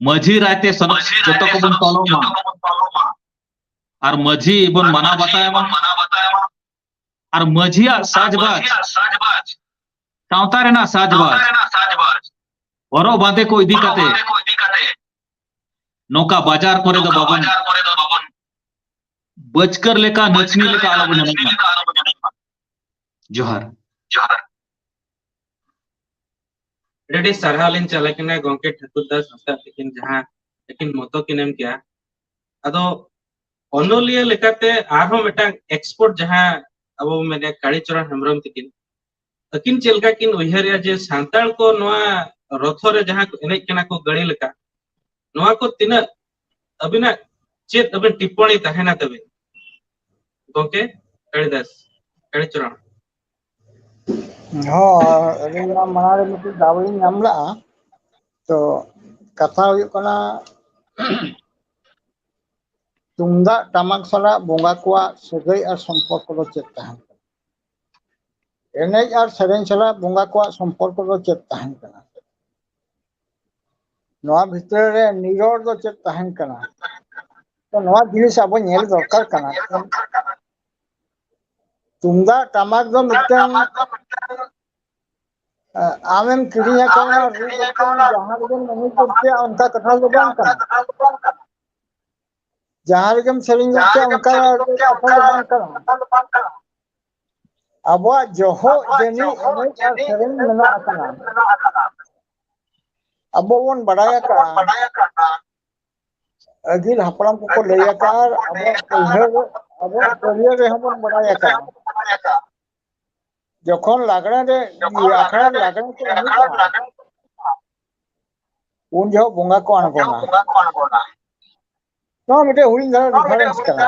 ᱢᱟᱹᱡᱷᱤ ᱨᱟᱭᱛᱮ ᱥᱟᱱᱟᱢ ᱡᱚᱛᱚ ᱠᱚᱵᱚᱱ ᱯᱟᱞᱚᱱ ᱢᱟ ᱟᱨ ᱢᱟᱹᱡᱷᱤ ᱵᱚᱱ ᱢᱟᱱᱟᱣ ᱵᱟᱛᱟᱭ ᱢᱟ ᱟᱨ ᱢᱟᱹᱡᱷᱤᱭᱟᱜ ᱥᱟᱡᱽᱵᱟᱡᱽ ᱥᱟᱶᱛᱟ ᱨᱮᱱᱟᱜ ᱥᱟᱡᱽᱵᱟᱡᱽ ᱦᱚᱨᱚᱜ ᱵᱟᱸᱫᱮ ᱠᱚ ᱤᱫᱤ ᱠᱟᱛᱮ ᱱᱚᱝᱠᱟ ᱵᱟᱡᱟᱨ ᱠᱚᱨᱮ ᱫᱚ ᱵᱟᱵᱚᱱ ᱵᱟᱹᱪᱠᱟᱹᱨ ᱞᱮᱠᱟ ᱱᱟᱹᱪᱱᱤ ᱞᱮᱠᱟ ᱟᱞᱚᱵᱚᱱ ᱮᱱᱮᱡ ᱢᱟ ᱡᱚᱦᱟᱨ ᱡᱚᱦᱟᱨ ᱟᱹᱰᱤ ᱟᱹᱰᱤ ᱥᱟᱨᱦᱟᱣ ᱞᱤᱧ ᱪᱟᱞ ᱟᱠᱤᱱᱟ ᱜᱚᱝᱠᱮ ᱴᱷᱟᱹᱠᱩᱨ ᱫᱟᱥ ᱦᱟᱸᱥᱫᱟᱜ ᱛᱤᱠᱤᱱ ᱡᱟᱦᱟᱸ ᱟᱹᱠᱤᱱ ᱢᱚᱛᱚ ᱠᱤᱱ ᱮᱢ ᱠᱮᱭᱟ ᱟᱫᱚ ᱚᱱᱚᱞᱤᱭᱟᱹ ᱞᱮᱠᱟᱛᱮ ᱟᱨᱦᱚᱸ ᱢᱤᱫᱴᱟᱝ ᱮᱠᱥᱯᱳᱨᱴ ᱡᱟᱦᱟᱸ ᱟᱵᱚ ᱵᱚᱱ ᱢᱮᱱᱮᱫ ᱠᱟᱲᱤᱪᱚᱨᱚᱱ ᱦᱮᱢᱵᱨᱚᱢ ᱛᱤᱠᱤᱱ ᱟᱹᱠᱤᱱ ᱪᱮᱫ ᱞᱮᱠᱟ ᱠᱤᱱ ᱩᱭᱦᱟᱹᱨᱮᱜᱼᱟ ᱡᱮ ᱥᱟᱱᱛᱟᱲ ᱠᱚ ᱱᱚᱣᱟ ᱨᱚᱛᱷᱚ ᱨᱮ ᱡᱟᱦᱟᱸ ᱠᱚ ᱮᱱᱮᱡ ᱠᱟᱱᱟ ᱠᱚ ᱜᱟᱹᱲᱤ ᱞᱮᱠᱟ ᱱᱚᱣᱟ ᱠᱚ ᱛᱤᱱᱟᱹᱜ ᱟᱹᱵᱤᱱᱟᱜ ᱪᱮᱫ ᱟᱹᱵᱤᱱ ᱴᱤᱯᱯᱚᱬᱤ ᱛᱟᱦᱮᱱᱟ ᱛᱟᱹᱵᱤᱱ ᱜᱚᱝᱠᱮ ᱠᱟᱲᱤᱫᱟᱥ ᱠᱟᱲᱤᱪᱚᱨᱚᱱ ᱦᱚᱸ ᱟᱹᱞᱤᱧ ᱢᱟ ᱢᱟᱲᱟᱝ ᱨᱮ ᱢᱤᱫᱴᱤᱡ ᱫᱟᱣ ᱞᱤᱧ ᱧᱟᱢ ᱞᱟᱜᱼᱟ ᱛᱚ ᱠᱟᱛᱷᱟ ᱦᱩᱭᱩᱜ ᱠᱟᱱᱟ ᱛᱩᱢᱫᱟᱜ ᱴᱟᱢᱟᱠ ᱥᱟᱞᱟᱜ ᱵᱚᱸᱜᱟ ᱠᱚᱣᱟᱜ ᱥᱟᱹᱜᱟᱹᱭ ᱟᱨ ᱥᱚᱢᱯᱚᱨᱠᱚ ᱫᱚ ᱪᱮᱫ ᱛᱟᱦᱮᱸᱱ ᱠᱟᱱᱟ? ᱮᱱᱮᱡ ᱟᱨ ᱥᱮᱨᱮᱧ ᱥᱟᱞᱟᱜ ᱵᱚᱸᱜᱟ ᱠᱚᱣᱟᱜ ᱥᱚᱢᱯᱚᱨᱠᱚ ᱫᱚ ᱪᱮᱫ ᱛᱟᱦᱮᱸᱱ ᱠᱟᱱᱟ? ᱱᱚᱣᱟ ᱵᱷᱤᱛᱟᱹᱨ ᱨᱮ ᱱᱤᱨᱚᱲ ᱫᱚ ᱪᱮᱫ ᱛᱟᱦᱮᱸᱱ ᱠᱟᱱᱟ? ᱛᱚ ᱱᱚᱣᱟ ᱡᱤᱱᱤᱥ ᱟᱵᱚ ᱧᱮᱞ ᱫᱚᱨᱠᱟᱨ ᱠᱟᱱᱟ ᱛᱚ ᱛᱩᱢᱫᱟᱜ ᱴᱟᱢᱟᱠ ᱫᱚ ᱢᱤᱫᱴᱟᱝ ᱟᱢᱮᱢ ᱠᱤᱨᱤᱧ ᱟᱠᱟᱣᱱᱟ ᱨᱩ ᱠᱟᱛᱮᱢ ᱡᱟᱦᱟᱸ ᱨᱮᱜᱮᱢ ᱮᱱᱮᱡ ᱜᱚᱫ ᱠᱮᱜᱼᱟ ᱚᱱᱠᱟ ᱠᱟᱛᱷᱟ ᱫᱚ ᱵᱟᱝ ᱠᱟᱱᱟ ᱡᱟᱦᱟᱸ ᱨᱮᱜᱮᱢ ᱥᱮᱨᱮᱧ ᱜᱚᱫ ᱠᱮᱜᱼᱟ ᱚᱱᱠᱟ ᱠᱟᱛᱷᱟ ᱫᱚ ᱵᱟᱝ ᱠᱟᱱᱟ ᱟᱵᱚᱣᱟᱜ ᱡᱚᱦᱚᱜ ᱡᱟᱹᱱᱤᱡ ᱮᱱᱮᱡ ᱟᱨ ᱥᱮᱨᱮᱧ ᱢᱮᱱᱟᱜ ᱟᱠᱟᱫᱟ ᱟᱵᱚ ᱵᱚᱱ ᱵᱟᱰᱟᱭ ᱟᱠᱟᱜᱼᱟ ᱟᱹᱜᱤᱞ ᱦᱟᱯᱲᱟᱢ ᱠᱚᱠᱚ ᱞᱟᱹᱭ ᱟᱠᱟᱫ ᱟᱵᱚᱣᱟᱜ ᱯᱟᱹᱭᱦᱟᱹ ᱟᱵᱚᱣᱟᱜ ᱯᱟᱹᱨᱭᱟᱹ ᱨᱮᱦᱚᱸ ᱵᱚᱱ ᱵᱟᱲᱟᱭ ᱟᱠᱟᱫ ᱡᱚᱠᱷᱚᱱ ᱞᱟᱜᱽᱬᱮ ᱨᱮ ᱤᱭᱟᱹ ᱟᱠᱷᱲᱟ ᱨᱮ ᱞᱟᱜᱽᱬᱮ ᱠᱚ ᱮᱱᱮᱡᱟ ᱩᱱ ᱡᱚᱦᱚᱜ ᱵᱚᱸᱜᱟ ᱠᱚ ᱟᱬᱜᱚᱱᱟ ᱱᱚᱣᱟ ᱢᱤᱫᱴᱮᱡ ᱦᱩᱰᱤᱧ ᱫᱷᱟᱨᱟ ᱨᱤᱯᱷᱟᱨᱮᱱᱥ ᱠᱟᱱᱟ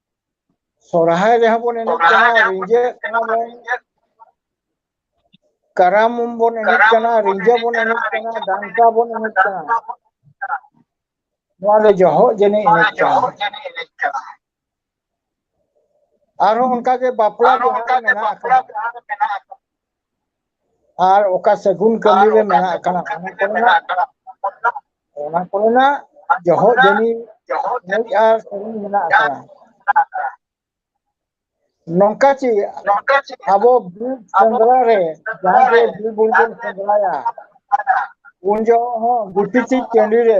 ᱥᱚᱨᱦᱟᱭ ᱨᱮᱦᱚᱸ ᱵᱚᱱ ᱮᱱᱮᱡ ᱠᱟᱱᱟ ᱨᱤᱸᱡᱟᱹᱜ ᱠᱟᱱᱟ ᱵᱚᱱ ᱠᱟᱨᱟᱢ ᱵᱚᱱ ᱮᱱᱮᱡ ᱠᱟᱱᱟ ᱨᱤᱸᱡᱟᱹ ᱵᱚᱱ ᱮᱱᱮᱡ ᱠᱟᱱᱟ ᱰᱟᱱᱴᱟ ᱵᱚᱱ ᱮᱱᱮᱡ ᱠᱟᱱᱟ ᱱᱚᱣᱟ ᱫᱚ ᱡᱚᱦᱚᱜ ᱡᱟᱹᱱᱤᱡ ᱮᱱᱮᱡ ᱠᱟᱱᱟ ᱟᱨᱦᱚᱸ ᱚᱱᱠᱟᱜᱮ ᱵᱟᱯᱞᱟ ᱵᱤᱦᱟᱨᱮ ᱢᱮᱱᱟᱜ ᱟᱠᱟᱫᱟ ᱟᱨ ᱚᱠᱟ ᱥᱟᱹᱜᱩᱱ ᱠᱟᱹᱢᱤ ᱨᱮ ᱢᱮᱱᱟᱜ ᱠᱟᱱᱟ ᱚᱱᱟ ᱠᱚᱨᱮᱱᱟᱜ ᱚᱱᱟ ᱠᱚᱨᱮᱱᱟᱜ ᱡᱚᱦᱚᱜ ᱡᱟᱹᱱᱤ ᱢᱩᱡ ᱟᱨ ᱥᱟᱹᱜᱩᱱ ᱢᱮᱱᱟᱜ ᱟᱠᱟᱫᱟ ᱱᱚᱝᱠᱟ ᱪᱮ ᱟᱵᱚ ᱵᱤᱨ ᱥᱮᱸᱫᱽᱨᱟ ᱨᱮ ᱡᱟᱦᱟᱸ ᱜᱮ ᱵᱤᱨ ᱵᱩᱨᱩ ᱵᱚᱱ ᱥᱮᱸᱫᱽᱨᱟᱭᱟ ᱩᱱ ᱡᱚᱦᱚᱜ ᱦᱚᱸ ᱜᱩᱴᱤ ᱪᱮ ᱴᱟᱺᱰᱤ ᱨᱮ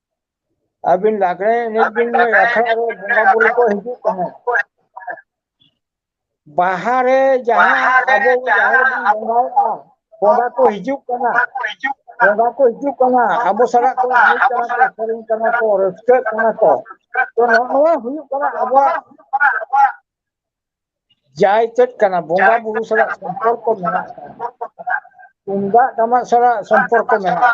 ᱟᱹᱵᱤᱱ ᱞᱟᱜᱽᱲᱮ ᱮᱱᱮᱡ ᱵᱤᱱ ᱞᱟᱹᱭ ᱟᱠᱷᱲᱟ ᱨᱮ ᱵᱚᱸᱜᱟ ᱵᱩᱨᱩ ᱠᱚ ᱦᱤᱡᱩᱜ ᱛᱟᱦᱮᱸᱫ ᱵᱟᱦᱟ ᱨᱮ ᱡᱟᱦᱟᱸ ᱟᱵᱚ ᱡᱟᱦᱮᱨ ᱨᱮᱵᱚᱱ ᱵᱚᱸᱜᱟᱭᱮᱫᱼᱟ ᱵᱚᱸᱜᱟ ᱠᱚ ᱦᱤᱡᱩᱜ ᱠᱟᱱᱟ ᱵᱚᱸᱜᱟ ᱠᱚ ᱦᱤᱡᱩᱜ ᱠᱟᱱᱟ ᱟᱵᱚ ᱥᱟᱞᱟᱜ ᱠᱚ ᱮᱱᱮᱡ ᱠᱟᱱᱟ ᱠᱚ ᱥᱮᱨᱮᱧ ᱠᱟᱱᱟ ᱠᱚ ᱨᱟᱹᱥᱠᱟᱹᱜ ᱠᱟᱱᱟ ᱠᱚ ᱛᱚ ᱱᱚᱜᱼᱚ ᱱᱚᱣᱟ ᱦᱩᱭᱩᱜ ᱠᱟᱱᱟ ᱟᱵᱚᱣᱟᱜ ᱡᱟᱭ ᱪᱮᱫ ᱠᱟᱱᱟ ᱵᱚᱸᱜᱟ ᱵᱩᱨᱩ ᱥᱟᱞᱟᱜ ᱥᱚᱢᱯᱚᱨᱠᱚ ᱢᱮᱱᱟᱜ ᱟᱠᱟᱫᱟ ᱛᱩᱢᱫᱟᱜ ᱴᱟᱢᱟᱠ ᱥᱟᱞᱟᱜ ᱥᱚᱢᱯᱚᱨᱠᱚ ᱢᱮᱱᱟᱜᱼᱟ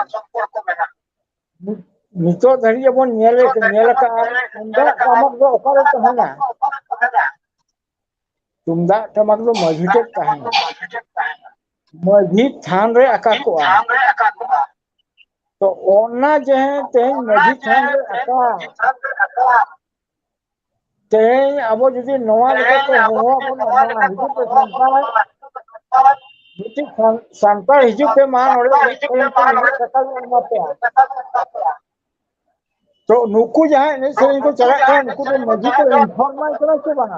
ᱱᱤᱛᱚᱜ ᱫᱷᱟᱹᱨᱤᱡ ᱵᱚᱱ ᱧᱮᱞ ᱧᱮᱞ ᱟᱠᱟᱫᱼᱟ ᱛᱩᱢᱫᱟᱜ ᱴᱟᱢᱟᱠ ᱫᱚ ᱚᱠᱟᱨᱮ ᱛᱟᱦᱮᱱᱟ ᱛᱩᱢᱫᱟᱜ ᱴᱟᱢᱟᱠ ᱫᱚ ᱢᱟᱹᱡᱷᱤ ᱴᱷᱮᱡ ᱛᱟᱦᱮᱱᱟ ᱢᱟᱹᱡᱷᱤ ᱛᱷᱟᱱ ᱨᱮ ᱟᱠᱟ ᱠᱚᱜᱼᱟ ᱛᱚ ᱚᱱᱟ ᱡᱟᱦᱟᱸ ᱛᱮᱦᱮᱧ ᱢᱟᱹᱡᱷᱤ ᱛᱷᱟᱱ ᱨᱮ ᱟᱠᱟ ᱛᱮᱦᱮᱧ ᱟᱵᱚ ᱡᱩᱫᱤ ᱱᱚᱣᱟ ᱞᱮᱠᱟᱛᱮ ᱦᱚᱦᱚᱣᱟ ᱵᱚᱱᱟ ᱢᱟ ᱦᱤᱡᱩᱜ ᱯᱮ ᱥᱟᱱᱛᱟᱲ ᱢᱤᱫᱴᱤᱡ ᱥᱟᱱ ᱥᱟᱱᱛᱟᱲ ᱦᱤᱡᱩᱜ ᱯᱮ ᱢᱟ ᱱᱚᱰᱮ ᱮᱱᱮᱡ ᱥᱮᱨᱮᱧ ᱯᱮ ᱱᱩᱱᱟᱹᱜ ᱴᱟᱠᱟ ᱞᱮ ᱮᱢᱟ ᱯᱮᱭᱟ ᱛᱚ ᱱᱩᱠᱩ ᱡᱟᱦᱟᱸᱭ ᱮᱱᱮᱡ ᱥᱮᱨᱮᱧ ᱠᱚ ᱪᱟᱞᱟᱜ ᱠᱟᱱᱟ ᱱᱩᱠᱩ ᱫᱚ ᱢᱟᱺᱡᱷᱤ ᱠᱚ ᱤᱱᱯᱷᱚᱨᱢ ᱟᱭ ᱠᱟᱱᱟ ᱥᱮ ᱵᱟᱝᱟ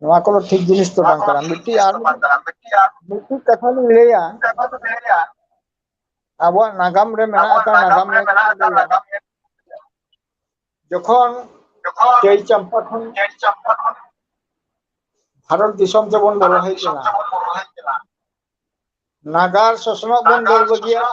ᱱᱚᱣᱟ ᱠᱚᱫᱚ ᱴᱷᱤᱠ ᱡᱤᱱᱤᱥ ᱫᱚ ᱵᱟᱝ ᱠᱟᱱᱟ ᱢᱤᱫᱴᱤᱡ ᱟᱨ ᱢᱤᱫᱴᱤᱡ ᱠᱟᱛᱷᱟ ᱞᱤᱧ ᱞᱟᱹᱭᱟ ᱟᱵᱚᱣᱟᱜ ᱱᱟᱜᱟᱢ ᱨᱮ ᱢᱮᱱᱟᱜ ᱟᱠᱟᱫ ᱱᱟᱜᱟᱢ ᱨᱮ ᱡᱚᱠᱷᱚᱱ ᱪᱟᱹᱭ ᱪᱟᱢᱯᱟ ᱠᱷᱚᱱ ᱵᱷᱟᱨᱚᱛ ᱫᱤᱥᱚᱢ ᱛᱮᱵᱚᱱ ᱵᱚᱞᱚ ᱦᱮᱡ ᱞᱮᱱᱟ ᱱᱟᱜᱟᱨ ᱥᱚᱥᱱᱚᱜ ᱵᱚᱱ ᱫᱟᱹᱲ ᱵᱟᱹᱜᱤᱭᱟᱜᱼᱟ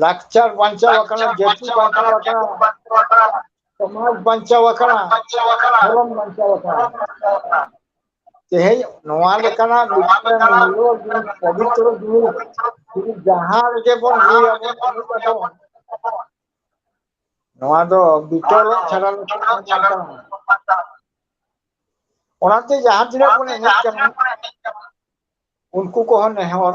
ᱞᱟᱠᱪᱟᱨ ᱵᱟᱧᱪᱟᱣ ᱟᱠᱟᱱᱟ ᱡᱟᱹᱛᱤ ᱵᱟᱧᱪᱟᱣ ᱟᱠᱟᱱᱟ ᱥᱚᱢᱟᱡᱽ ᱵᱟᱧᱪᱟᱣ ᱟᱠᱟᱱᱟ ᱫᱷᱚᱨᱚᱢ ᱵᱟᱧᱪᱟᱣ ᱟᱠᱟᱱᱟ ᱛᱮᱦᱮᱧ ᱱᱚᱣᱟ ᱞᱮᱠᱟᱱᱟᱜ ᱢᱤᱫᱴᱮᱱ ᱢᱩᱞᱞᱚ ᱡᱤᱱᱤᱥ ᱯᱚᱵᱤᱛᱨᱚ ᱡᱤᱱᱤᱥ ᱡᱩᱫᱤ ᱡᱟᱦᱟᱸ ᱨᱮᱜᱮ ᱵᱚᱱ ᱞᱟᱹᱭᱟ ᱵᱚᱱ ᱮᱱᱮᱡ ᱟᱵᱚᱱ ᱱᱚᱣᱟ ᱫᱚ ᱵᱤᱛᱚᱞᱚᱜ ᱪᱷᱟᱰᱟ ᱞᱮᱠᱷᱟᱱ ᱵᱟᱝ ᱠᱟᱱᱟ ᱚᱱᱟᱛᱮ ᱡᱟᱦᱟᱸ ᱛᱤᱱᱟᱹᱜ ᱵᱚᱱ ᱮᱱᱮᱡ ᱠᱟᱱᱟ ᱩᱱᱠᱩ ᱠᱚᱦᱚᱸ ᱱᱮᱦᱚᱨ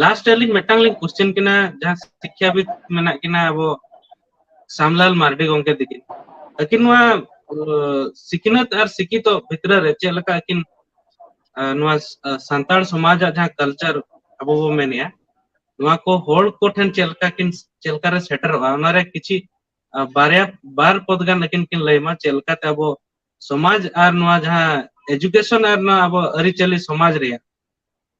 ᱞᱟᱥᱴ ᱨᱮ ᱟᱹᱞᱤᱧ ᱢᱤᱫᱴᱟᱝ ᱞᱤᱧ ᱠᱚᱥᱪᱮᱱ ᱠᱤᱱᱟ ᱡᱟᱦᱟᱸ ᱥᱤᱠᱠᱷᱟᱵᱤᱫ ᱢᱮᱱᱟᱜ ᱠᱤᱱᱟ ᱟᱵᱚ ᱥᱟᱢᱞᱟᱞ ᱢᱟᱨᱰᱤ ᱜᱚᱝᱠᱮ ᱛᱤᱠᱤᱱ ᱟᱹᱠᱤᱱ ᱱᱚᱣᱟ ᱥᱤᱠᱷᱱᱟᱹᱛ ᱟᱨ ᱥᱤᱠᱷᱤᱛᱚ ᱵᱷᱤᱛᱨᱤ ᱨᱮ ᱪᱮᱫ ᱞᱮᱠᱟ ᱟᱹᱠᱤᱱ ᱱᱚᱣᱟ ᱥᱟᱱᱛᱟᱲ ᱥᱚᱢᱟᱡᱟᱜ ᱡᱟᱦᱟᱸ ᱠᱟᱞᱪᱟᱨ ᱟᱵᱚ ᱵᱚ ᱢᱮᱱᱮᱜᱼᱟ ᱱᱚᱣᱟ ᱠᱚ ᱦᱚᱲ ᱠᱚ ᱴᱷᱮᱱ ᱪᱮᱫ ᱞᱮᱠᱟ ᱠᱤᱱ ᱪᱮᱫ ᱞᱮᱠᱟ ᱨᱮ ᱥᱮᱴᱮᱨᱚᱜᱼᱟ ᱚᱱᱟ ᱨᱮ ᱠᱤᱪᱷᱤ ᱵᱟᱨᱭᱟ ᱵᱟᱨ ᱯᱚᱫ ᱜᱟᱱ ᱟᱹᱠᱤᱱ ᱠᱤᱱ ᱞᱟᱹᱭᱢᱟ ᱪᱮᱫ ᱞᱮᱠᱟᱛᱮ ᱟᱵᱚ ᱥᱚᱢᱟᱡᱽ ᱟᱨ ᱱᱚᱣᱟ ᱡᱟᱦᱟᱸ ᱮᱡᱩᱠᱮᱥᱚᱱ ᱟᱨ ᱱᱚᱣᱟ ᱟᱵᱚ ᱟᱹᱨᱤᱪᱟᱹᱞᱤ ᱥᱚᱢᱟᱡᱽ ᱨᱮᱭᱟᱜ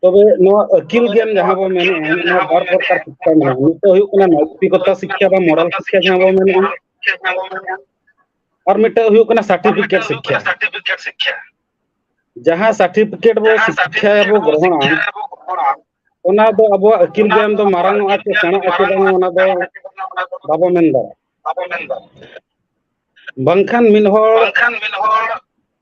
ᱛᱚᱵᱮ ᱱᱚᱣᱟ ᱟᱹᱠᱤᱞ ᱜᱮᱭᱟᱱ ᱡᱟᱦᱟᱸ ᱵᱚᱱ ᱢᱮᱱᱮᱫᱼᱟ ᱱᱚᱣᱟ ᱵᱟᱨ ᱯᱨᱚᱠᱟᱨ ᱥᱤᱠᱠᱷᱟ ᱢᱮᱱᱟᱜᱼᱟ ᱢᱤᱫ ᱫᱚ ᱦᱩᱭᱩᱜ ᱠᱟᱱᱟ ᱱᱳᱭᱛᱤᱠᱚᱛᱟ ᱥᱤᱠᱠᱷᱟ ᱵᱟ ᱢᱚᱨᱟᱞ ᱥᱤᱠᱠᱷᱟ ᱡᱟᱦᱟᱸ ᱵᱚᱱ ᱢᱮᱱᱮᱫᱼᱟ ᱟᱨ ᱢᱤᱫᱴᱮᱱ ᱦᱩᱭᱩᱜ ᱠᱟᱱᱟ ᱥᱟᱨᱴᱤᱯᱷᱤᱠᱮᱴ ᱥᱤᱠᱠᱷᱟ ᱡᱟᱦᱟᱸ ᱥᱟᱨᱴᱤᱯᱷᱤᱠᱮᱴ ᱵᱚ ᱥᱤᱠᱠᱷᱟ ᱵᱚ ᱜᱨᱚᱦᱚᱱᱟ ᱚᱱᱟ ᱫᱚ ᱟᱵᱚᱣᱟᱜ ᱟᱹᱠᱤᱞ ᱜᱮᱭᱟᱱ ᱫᱚ ᱢᱟᱨᱟᱝ ᱚᱜᱼᱟ ᱥᱮ ᱥᱮᱬᱟᱜ ᱟᱥᱮ ᱵᱟᱝ ᱚᱱᱟ ᱫᱚ ᱵᱟᱵᱚ ᱢᱮᱱ ᱫᱟᱲᱮᱭᱟᱜᱼᱟ ᱵᱟᱝᱠᱷᱟᱱ ᱢᱤᱫ ᱦᱚᱲ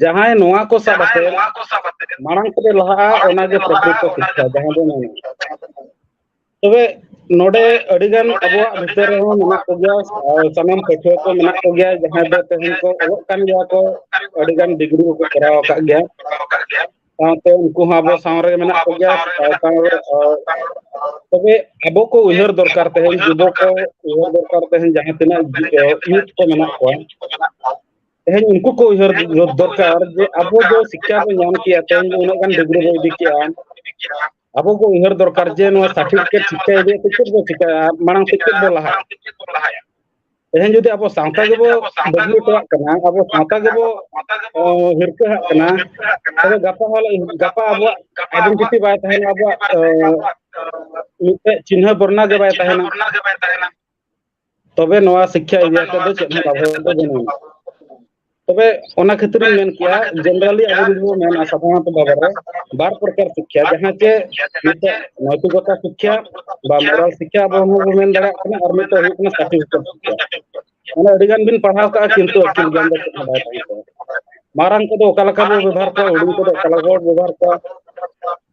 ᱡᱟᱦᱟᱸᱭ ᱱᱚᱣᱟ ᱠᱚ ᱥᱟᱵ ᱠᱟᱛᱮ ᱢᱟᱲᱟᱝ ᱛᱮ ᱞᱟᱦᱟᱜᱼᱟ ᱚᱱᱟᱜᱮ ᱯᱨᱚᱠᱨᱤᱛᱚ ᱥᱤᱠᱠᱷᱟ ᱡᱟᱦᱟᱸ ᱫᱚ ᱢᱮᱱᱟ ᱛᱚᱵᱮ ᱱᱚᱰᱮ ᱟᱹᱰᱤᱜᱟᱱ ᱟᱵᱚᱣᱟᱜ ᱵᱷᱤᱛᱟᱹᱨ ᱨᱮᱦᱚᱸ ᱢᱮᱱᱟᱜ ᱠᱚᱜᱮᱭᱟ ᱥᱟᱱᱟᱢ ᱯᱟᱹᱴᱷᱩᱣᱟᱹ ᱠᱚ ᱢᱮᱱᱟᱜ ᱠᱚᱜᱮᱭᱟ ᱡᱟᱦᱟᱸᱭ ᱫᱚ ᱛᱮᱦᱮᱧ ᱠᱚ ᱚᱞᱚᱜ ᱠᱟᱱ ᱜᱮᱭᱟ ᱠᱚ ᱟᱹᱰᱤᱜᱟᱱ ᱰᱤᱜᱽᱨᱤ ᱠᱚᱠᱚ ᱠᱚᱨᱟᱣ ᱟᱠᱟᱫ ᱜᱮᱭᱟ ᱥᱟᱶᱛᱮ ᱩᱱᱠᱩ ᱦᱚᱸ ᱟᱵᱚ ᱥᱟᱶ ᱨᱮᱜᱮ ᱢᱮᱱᱟᱜ ᱠᱚᱜᱮᱭᱟ ᱛᱚᱵᱮ ᱟᱵᱚ ᱠᱚ ᱩᱭᱦᱟᱹᱨ ᱫᱚᱨᱠᱟᱨ ᱛᱮᱦᱮᱧ ᱡᱩᱵᱚ ᱠᱚ ᱩᱭᱦᱟᱹᱨ ᱫᱚᱨᱠᱟᱨ ᱛᱮᱦᱮᱧ ᱡᱟᱦᱟᱸ ᱛᱤᱱᱟᱹᱜ ᱤᱭᱩᱛᱷ ᱠᱚ ᱢᱮᱱᱟᱜ ᱠᱚᱣᱟ ᱛᱮᱦᱮᱧ ᱩᱱᱠᱩ ᱠᱚ ᱩᱭᱦᱟᱹᱨ ᱫᱚᱨᱠᱟᱨ ᱡᱮ ᱟᱵᱚ ᱫᱚ ᱥᱤᱠᱠᱷᱟ ᱵᱚᱱ ᱧᱟᱢ ᱠᱮᱭᱟ ᱛᱮᱦᱮᱧ ᱫᱚ ᱩᱱᱟᱹᱜ ᱜᱟᱱ ᱰᱤᱜᱽᱨᱤ ᱵᱚᱱ ᱤᱫᱤ ᱠᱮᱜᱼᱟ ᱟᱵᱚ ᱠᱚ ᱩᱭᱦᱟᱹᱨ ᱫᱚᱨᱠᱟᱨ ᱡᱮ ᱱᱚᱣᱟ ᱥᱟᱨᱴᱤᱯᱷᱤᱠᱮᱴ ᱥᱤᱠᱠᱷᱟ ᱤᱫᱤ ᱠᱟᱛᱮ ᱪᱮᱫ ᱵᱚ ᱪᱤᱠᱟᱹᱭᱟ ᱢᱟᱲᱟᱝ ᱥᱮᱫ ᱪᱮᱫ ᱵᱚ ᱞᱟᱦᱟᱭᱟ ᱛᱮᱦᱮᱧ ᱡᱩᱫᱤ ᱟᱵᱚ ᱥᱟᱶᱛᱟ ᱜᱮᱵᱚ ᱵᱟᱹᱜᱤ ᱦᱚᱴᱚᱣᱟᱜ ᱠᱟᱱᱟ ᱟᱵᱚ ᱥᱟᱶᱛᱟ ᱜᱮᱵᱚ ᱦᱤᱨᱠᱟᱹᱦᱟᱜ ᱠᱟᱱᱟ ᱛᱚᱵᱮ ᱜᱟᱯᱟ ᱜᱟᱯᱟ ᱟᱵᱚᱣᱟᱜ ᱟᱭᱰᱮᱱᱴᱤᱴᱤ ᱵᱟᱭ ᱛᱟᱦᱮᱱᱟ ᱟᱵᱚᱣᱟᱜ ᱢᱤᱫᱴᱮᱡ ᱪᱤᱱᱦᱟᱹ ᱵᱚᱨᱱᱟ ᱜᱮ ᱵᱟᱭ ᱛᱟᱦᱮᱱᱟ ᱛᱚᱵᱮ ᱱᱚᱣᱟ ᱥᱤᱠᱠᱷᱟ ᱮᱨᱤᱭᱟ ᱛᱮᱫᱚ ᱪᱮᱫ ᱦᱚᱸ ᱞᱟᱵᱷ ᱫᱚ ᱵᱟᱹᱱᱩᱜᱼᱟ ᱛᱚᱵᱮ ᱚᱱᱟ ᱠᱷᱟᱹᱛᱤᱨ ᱤᱧ ᱢᱮᱱ ᱠᱮᱭᱟ ᱡᱮᱱᱮᱨᱟᱞᱤ ᱟᱵᱚ ᱡᱩᱫᱤ ᱵᱚᱱ ᱢᱮᱱᱟ ᱥᱟᱫᱷᱟᱨᱚᱱᱛᱚ ᱵᱷᱟᱵᱮ ᱨᱮ ᱵᱟᱨ ᱯᱨᱚᱠᱟᱨ ᱥᱤᱠᱠᱷᱟ ᱡᱟᱦᱟᱸ ᱪᱮ ᱢᱤᱫᱴᱮᱡ ᱱᱳᱭᱛᱤᱠᱚᱛᱟ ᱥᱤᱠᱠᱷᱟ ᱵᱟ ᱢᱳᱨᱟᱞ ᱥᱤᱠᱠᱷᱟ ᱟᱵᱚ ᱦᱚᱸ ᱵᱚᱱ ᱢᱮᱱ ᱫᱟᱲᱮᱭᱟᱜ ᱠᱟᱱᱟ ᱟᱨ ᱢᱤᱫᱴᱮᱡ ᱦᱩᱭᱩᱜ ᱠᱟᱱᱟ ᱥᱟᱨᱴᱤᱯᱷᱤᱠᱮᱴ ᱥᱤᱠᱠᱷᱟ ᱢᱟᱱᱮ ᱟᱹᱰᱤ ᱜᱟᱱ ᱵᱤᱱ ᱯᱟᱲᱦᱟᱣ ᱠᱟᱜᱼᱟ ᱠᱤᱱᱛᱩ ᱟᱹᱠᱤᱞ ᱜᱮᱭᱟᱱ ᱫᱚ ᱪᱮᱫ ᱦᱚᱸ ᱵᱟᱭ ᱛᱟᱦᱮᱸ ᱠᱚᱜᱼᱟ ᱢᱟᱨᱟᱝ ᱠᱚᱫᱚ ᱚᱠᱟ ᱞᱮᱠᱟ ᱵᱚ ᱵᱮᱵᱚᱦᱟᱨ ᱠᱚᱣᱟ ᱦᱩᱰᱤᱧ ᱠᱚᱫᱚ ᱚᱠᱟ ᱞᱮᱠᱟ ᱵᱚ ᱵᱮᱵᱚᱦᱟᱨ ᱠᱚᱣᱟ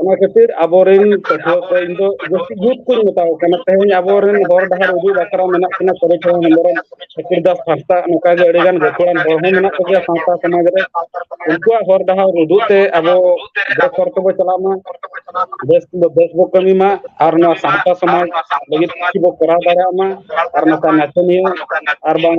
ᱚᱱᱟ ᱠᱷᱟᱹᱛᱤᱨ ᱟᱵᱚᱨᱮᱱ ᱯᱟᱹᱴᱷᱩᱣᱟᱹ ᱠᱚ ᱤᱧ ᱫᱚ ᱡᱟᱹᱥᱛᱤ ᱡᱩᱛ ᱠᱚᱧ ᱢᱮᱛᱟ ᱠᱚ ᱠᱟᱱᱟ ᱛᱮᱦᱮᱧ ᱟᱵᱚᱨᱮᱱ ᱦᱚᱨ ᱰᱟᱦᱟᱨ ᱩᱫᱩᱜ ᱵᱟᱠᱷᱨᱟ ᱢᱮᱱᱟᱜ ᱠᱤᱱᱟ ᱥᱚᱨᱚᱡᱽ ᱦᱚᱸ ᱦᱮᱢᱵᱨᱚᱢ ᱥᱩᱠᱩᱨ ᱫᱟᱥ ᱦᱟᱸᱥᱫᱟ ᱱᱚᱝᱠᱟ ᱜᱮ ᱟᱹᱰᱤ ᱜᱟᱱ ᱜᱟᱹᱠᱷᱩᱲᱟᱱ ᱦᱚᱲ ᱦᱚᱸ ᱢᱮᱱᱟᱜ ᱠᱚᱜᱮᱭᱟ ᱥᱟᱶᱛᱟ ᱥᱚᱢᱟᱡᱽ ᱨᱮ ᱩᱱᱠᱩᱣᱟᱜ ᱦᱚᱨ ᱰᱟᱦᱟᱨ ᱩᱫᱩᱜ ᱛᱮ ᱟᱵᱚ ᱵᱮᱥ ᱦᱚᱨ ᱛᱮᱵᱚ ᱪᱟᱞᱟᱜ ᱢᱟ ᱵᱮᱥ ᱫᱚ ᱵᱮᱥ ᱵᱚ ᱠᱟᱹᱢᱤ ᱢᱟ ᱟᱨ ᱱᱚᱣᱟ ᱥᱟᱶᱛᱟ ᱥᱚᱢᱟᱡᱽ ᱞᱟᱹᱜᱤᱫ ᱠᱤᱪᱷᱩ ᱵᱚ ᱠᱚᱨᱟᱣ ᱫᱟᱲᱮᱭᱟᱜ ᱢᱟ ᱟᱨ ᱱᱚᱝᱠᱟ ᱱᱟᱪᱚᱱᱤᱭᱟᱹ ᱟᱨ ᱵᱟᱝ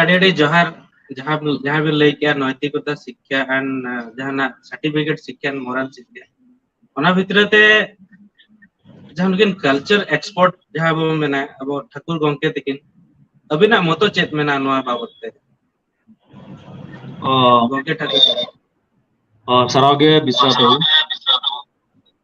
ᱟᱹᱰᱤ ᱟᱹᱰᱤ ᱡᱚᱦᱟᱨ ᱡᱟᱦᱟᱸ ᱡᱟᱦᱟᱸ ᱵᱤᱱ ᱞᱟᱹᱭ ᱠᱮᱜᱼᱟ ᱱᱳᱭᱛᱤᱠᱚᱛᱟ ᱥᱤᱠᱠᱷᱟ ᱟᱱ ᱡᱟᱦᱟᱱᱟᱜ ᱥᱟᱨᱴᱤᱯᱷᱤᱠᱮᱴ ᱥᱤᱠᱠᱷᱟ ᱢᱚᱨᱟᱞ ᱥᱤᱠᱠᱷᱟ ᱚᱱᱟ ᱵᱷᱤᱛᱨᱤ ᱛᱮ ᱡᱟᱦᱟᱸ ᱱᱩᱠᱤᱱ ᱠᱟᱞᱪᱟᱨ ᱮᱠᱥᱯᱳᱨᱴ ᱡᱟᱦᱟᱸ ᱵᱚᱱ ᱢᱮᱱᱟ ᱟᱵᱚ ᱴᱷᱟᱹᱠᱩᱨ ᱜᱚᱢᱠᱮ ᱛᱤᱠᱤᱱ ᱟᱵᱤᱱᱟᱜ ᱢᱚᱛᱚ ᱪᱮᱫ ᱢᱮᱱᱟᱜᱼᱟ ᱱᱚᱣᱟ ᱵᱟᱵᱚᱛ ᱛᱮ ᱚ ᱜᱚᱝᱠᱮ ᱴᱟᱠᱩᱨ ᱚ ᱥᱟᱨᱦᱟᱣ ᱜᱮ ᱵᱤᱥᱥᱚ ᱫᱚ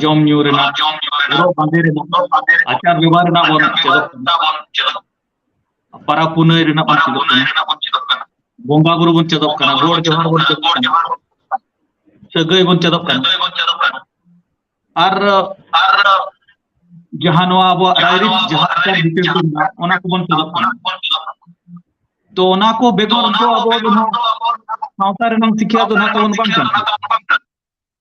ᱡᱚᱢ ᱧᱩ ᱨᱮᱱᱟᱜ ᱦᱚᱨᱚᱜ ᱵᱟᱸᱫᱮ ᱨᱮᱱᱟᱜ ᱟᱪᱟᱨ ᱵᱮᱵᱚᱦᱟᱨ ᱨᱮᱱᱟᱜ ᱵᱚᱱ ᱪᱮᱫᱚᱜ ᱠᱟᱱᱟ ᱯᱟᱨᱟᱵᱽ ᱯᱩᱱᱟᱹᱭ ᱨᱮᱱᱟᱜ ᱵᱚᱱ ᱪᱮᱫᱚᱜ ᱠᱟᱱᱟ ᱵᱚᱸᱜᱟ ᱵᱩᱨᱩ ᱵᱚᱱ ᱪᱮᱫᱚᱜ ᱠᱟᱱᱟ ᱜᱚᱰ ᱡᱚᱦᱟᱨ ᱵᱚᱱ ᱪᱮᱫᱚᱜ ᱠᱟᱱᱟ ᱥᱟᱹᱜᱟᱹᱭ ᱵᱚᱱ ᱪᱮᱫᱚᱜ ᱠᱟᱱᱟ ᱟᱨ ᱡᱟᱦᱟᱸ ᱱᱚᱣᱟ ᱟᱵᱚᱣᱟᱜ ᱨᱟᱭᱨᱤᱛ ᱡᱟᱦᱟᱸ ᱟᱪᱟᱨ ᱵᱤᱪᱟᱹᱨ ᱠᱚ ᱢᱮᱱᱟᱜᱼᱟ ᱚᱱᱟ ᱠᱚᱵᱚᱱ ᱪᱮᱫᱚᱜ ᱠᱟᱱᱟ ᱛᱚ ᱚᱱᱟ ᱠᱚ ᱵᱮᱜᱚᱨ ᱫᱚ ᱟᱵᱚ ᱫᱚ ᱱᱟᱦᱟᱜ ᱥᱟᱶᱛᱟ ᱨᱮᱱᱟᱝ ᱥᱤᱠᱷᱭᱟ ᱫᱚ ᱱᱟᱦᱟᱜ ᱛᱟᱵᱚᱱ ᱵᱟᱝ ᱠᱟᱱᱟ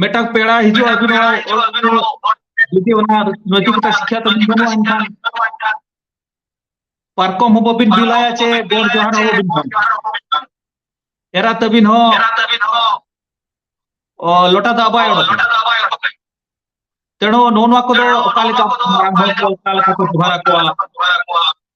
ᱢᱤᱫᱴᱟᱝ ᱯᱮᱲᱟ ᱦᱤᱡᱩᱜ ᱟᱹᱵᱤᱱ ᱡᱩᱫᱤ ᱚᱱᱟ ᱱᱚᱡᱩᱠᱛᱟ ᱥᱤᱠᱷᱟ ᱛᱟᱵᱤᱱ ᱵᱟᱹᱱᱩᱜᱼᱟ ᱮᱱᱠᱷᱟᱱ ᱯᱟᱨᱠᱚᱢ ᱦᱚᱸ ᱵᱟᱹᱵᱤᱱ ᱵᱤᱞᱟᱭᱟ ᱪᱮ ᱜᱚᱲ ᱡᱚᱦᱟᱨ ᱦᱚᱸ ᱵᱟᱹᱵᱤᱱ ᱵᱟᱝ ᱮᱨᱟ ᱛᱟᱹᱵᱤᱱ ᱦᱚᱸ ᱞᱚᱴᱟ ᱫᱟᱜ ᱵᱟᱭ ᱚᱰᱚᱠᱟ ᱛᱮᱬᱚ ᱱᱚᱣᱟ ᱠᱚᱫᱚ ᱚᱠᱟ ᱞᱮᱠᱟ ᱢᱟᱨᱟᱝ ᱦᱚᱲ ᱠᱚ ᱚᱠᱟ ᱞᱮᱠᱟ ᱠᱚ ᱡᱚᱦᱟᱨ ᱟᱠᱚᱣᱟ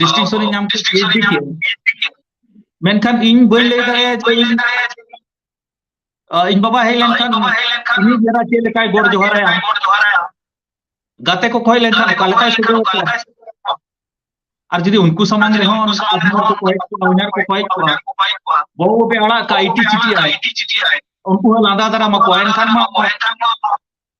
ᱰᱤᱥᱴᱤᱝᱥᱚᱱ ᱤᱧ ᱧᱟᱢ ᱠᱮᱫᱟ ᱢᱮᱱᱠᱷᱟᱱ ᱤᱧ ᱵᱟᱹᱧ ᱞᱟᱹᱭ ᱫᱟᱲᱮᱭᱟᱜᱼᱟ ᱡᱮ ᱤᱧ ᱵᱟᱵᱟ ᱦᱮᱡ ᱞᱮᱱᱠᱷᱟᱱ ᱩᱱᱤ ᱡᱟᱨᱟ ᱪᱮᱫ ᱞᱮᱠᱟᱭ ᱜᱚᱰ ᱡᱚᱦᱟᱨᱟᱭᱟ ᱜᱟᱛᱮ ᱠᱚ ᱠᱷᱚᱭ ᱞᱮᱱᱠᱷᱟᱱ ᱚᱠᱟ ᱞᱮᱠᱟᱭ ᱥᱚᱫᱚᱨ ᱟᱠᱚᱣᱟ ᱟᱨ ᱡᱩᱫᱤ ᱩᱱᱠᱩ ᱥᱟᱢᱟᱝ ᱨᱮᱦᱚᱸ ᱟᱡᱷᱱᱟᱨ ᱠᱚ ᱠᱚᱭᱮᱠ ᱠᱚᱣᱟ ᱩᱭᱱᱟᱨ ᱠᱚ ᱠᱚᱭᱮᱠ ᱠᱚᱣᱟ ᱵᱟᱹᱵᱩ ᱵᱟᱵᱮ ᱟᱲᱟᱜ ᱠᱟᱜᱼᱟ ᱤᱴᱤ ᱪᱤᱴᱤ ᱟᱭ ᱩᱱᱠᱩ ᱦᱚᱸ ᱞᱟᱸᱫᱟ ᱫᱟᱨᱟᱢ ᱟᱠᱚᱣᱟ ᱮᱱᱠᱷᱟᱱ ᱢᱟ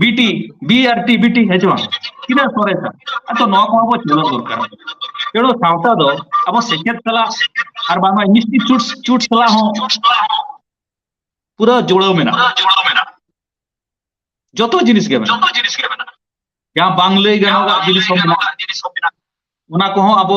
ᱵᱤᱴᱤ ᱵᱤ ᱟᱨ ᱴᱤ ᱵᱤᱴᱤ ᱦᱮᱸ ᱪᱮ ᱵᱟᱝ ᱛᱤᱱᱟᱹᱜ ᱥᱚᱨᱮᱥᱟ ᱟᱫᱚ ᱱᱚᱣᱟ ᱠᱚᱦᱚᱸ ᱵᱚ ᱪᱮᱫᱚᱜ ᱫᱚᱨᱠᱟᱨ ᱛᱮᱲᱚ ᱥᱟᱶᱛᱟ ᱫᱚ ᱟᱵᱚ ᱥᱮᱪᱮᱫ ᱥᱟᱞᱟᱜ ᱟᱨ ᱵᱟᱝᱢᱟ ᱢᱤᱥᱴᱤ ᱪᱩᱴ ᱪᱩᱴ ᱥᱟᱞᱟᱜ ᱦᱚᱸ ᱯᱩᱨᱟᱹ ᱡᱩᱲᱟᱹᱣ ᱢᱮᱱᱟᱜᱼᱟ ᱡᱚᱛᱚ ᱡᱤᱱᱤᱥ ᱜᱮ ᱢᱮᱱᱟᱜᱼᱟ ᱡᱟᱦᱟᱸ ᱵᱟᱝ ᱞᱟᱹᱭ ᱜᱟᱱᱚᱜᱟᱜ ᱡᱤᱱᱤᱥ ᱦᱚᱸ ᱢᱮᱱᱟᱜᱼᱟ ᱚᱱᱟ ᱠᱚᱦᱚᱸ ᱟᱵᱚ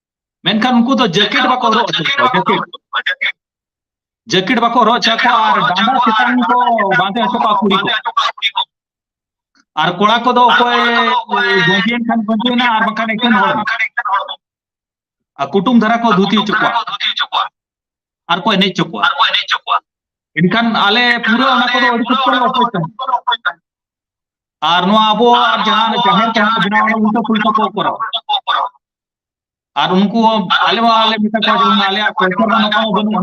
ᱢᱮᱱᱠᱷᱟᱱ ᱩᱱᱠᱩ ᱫᱚ ᱡᱮᱠᱮᱴ ᱵᱟᱠᱚ ᱦᱚᱨᱚᱜ ᱦᱚᱪᱚ ᱠᱚᱣᱟ ᱡᱮᱠᱮᱴ ᱡᱮᱠᱮᱴ ᱵᱟᱠᱚ ᱦᱚᱨᱚᱜ ᱦᱚᱪᱚ ᱠᱚᱣᱟ ᱟᱨ ᱰᱟᱸᱰᱟ ᱪᱮᱛᱟᱱ ᱠᱚ ᱵᱟᱸᱫᱮ ᱦᱚᱪᱚ ᱠᱚᱣᱟ ᱠᱩᱲᱤ ᱠᱚ ᱟᱨ ᱠᱚᱲᱟ ᱠᱚᱫᱚ ᱚᱠᱚᱭ ᱜᱚᱸᱡᱮᱱ ᱠᱷᱟᱱ ᱜᱚᱸᱡᱮᱱᱟ ᱟᱨ ᱵᱟᱝᱠᱷᱟᱱ ᱮᱠᱮᱱ ᱦᱚᱲ ᱟᱨ ᱠᱩᱴᱩᱢ ᱫᱷᱟᱨᱟ ᱠᱚ ᱫᱷᱩᱛᱤ ᱦᱚᱪᱚ ᱠᱚᱣᱟ ᱟᱨ ᱠᱚ ᱮᱱᱮᱡ ᱦᱚᱪᱚ ᱠᱚᱣᱟ ᱮᱱᱠᱷᱟᱱ ᱟᱞᱮ ᱯᱩᱨᱟᱹ ᱚᱱᱟ ᱠᱚᱫᱚ ᱟᱹᱰᱤ ᱥᱚᱠᱛᱚ ᱞᱮ ᱚᱯᱚᱡᱽ ᱛᱟᱦᱮᱸᱫ ᱟᱨ ᱱᱚᱣᱟ ᱟᱵᱚᱣᱟᱜ ᱡᱟᱦᱟᱸ ᱡᱟᱦᱮᱨ ᱡᱟᱦᱟᱸ ᱵᱮᱱᱟᱣ ᱩᱞᱴᱟᱹ ᱯᱩᱞᱴᱟᱹ ᱠᱚ ᱠᱚᱨᱟᱣᱟ ᱟᱨ ᱩᱱᱠᱩ ᱦᱚᱸ ᱟᱞᱮ ᱢᱟ ᱟᱞᱮ ᱢᱮᱛᱟ ᱠᱚᱣᱟ ᱡᱮᱢᱚᱱ ᱟᱞᱮᱭᱟᱜ ᱠᱚᱞᱪᱟᱨ ᱢᱟ ᱱᱚᱝᱠᱟ ᱢᱟ ᱵᱟᱹᱱᱩᱜᱼᱟ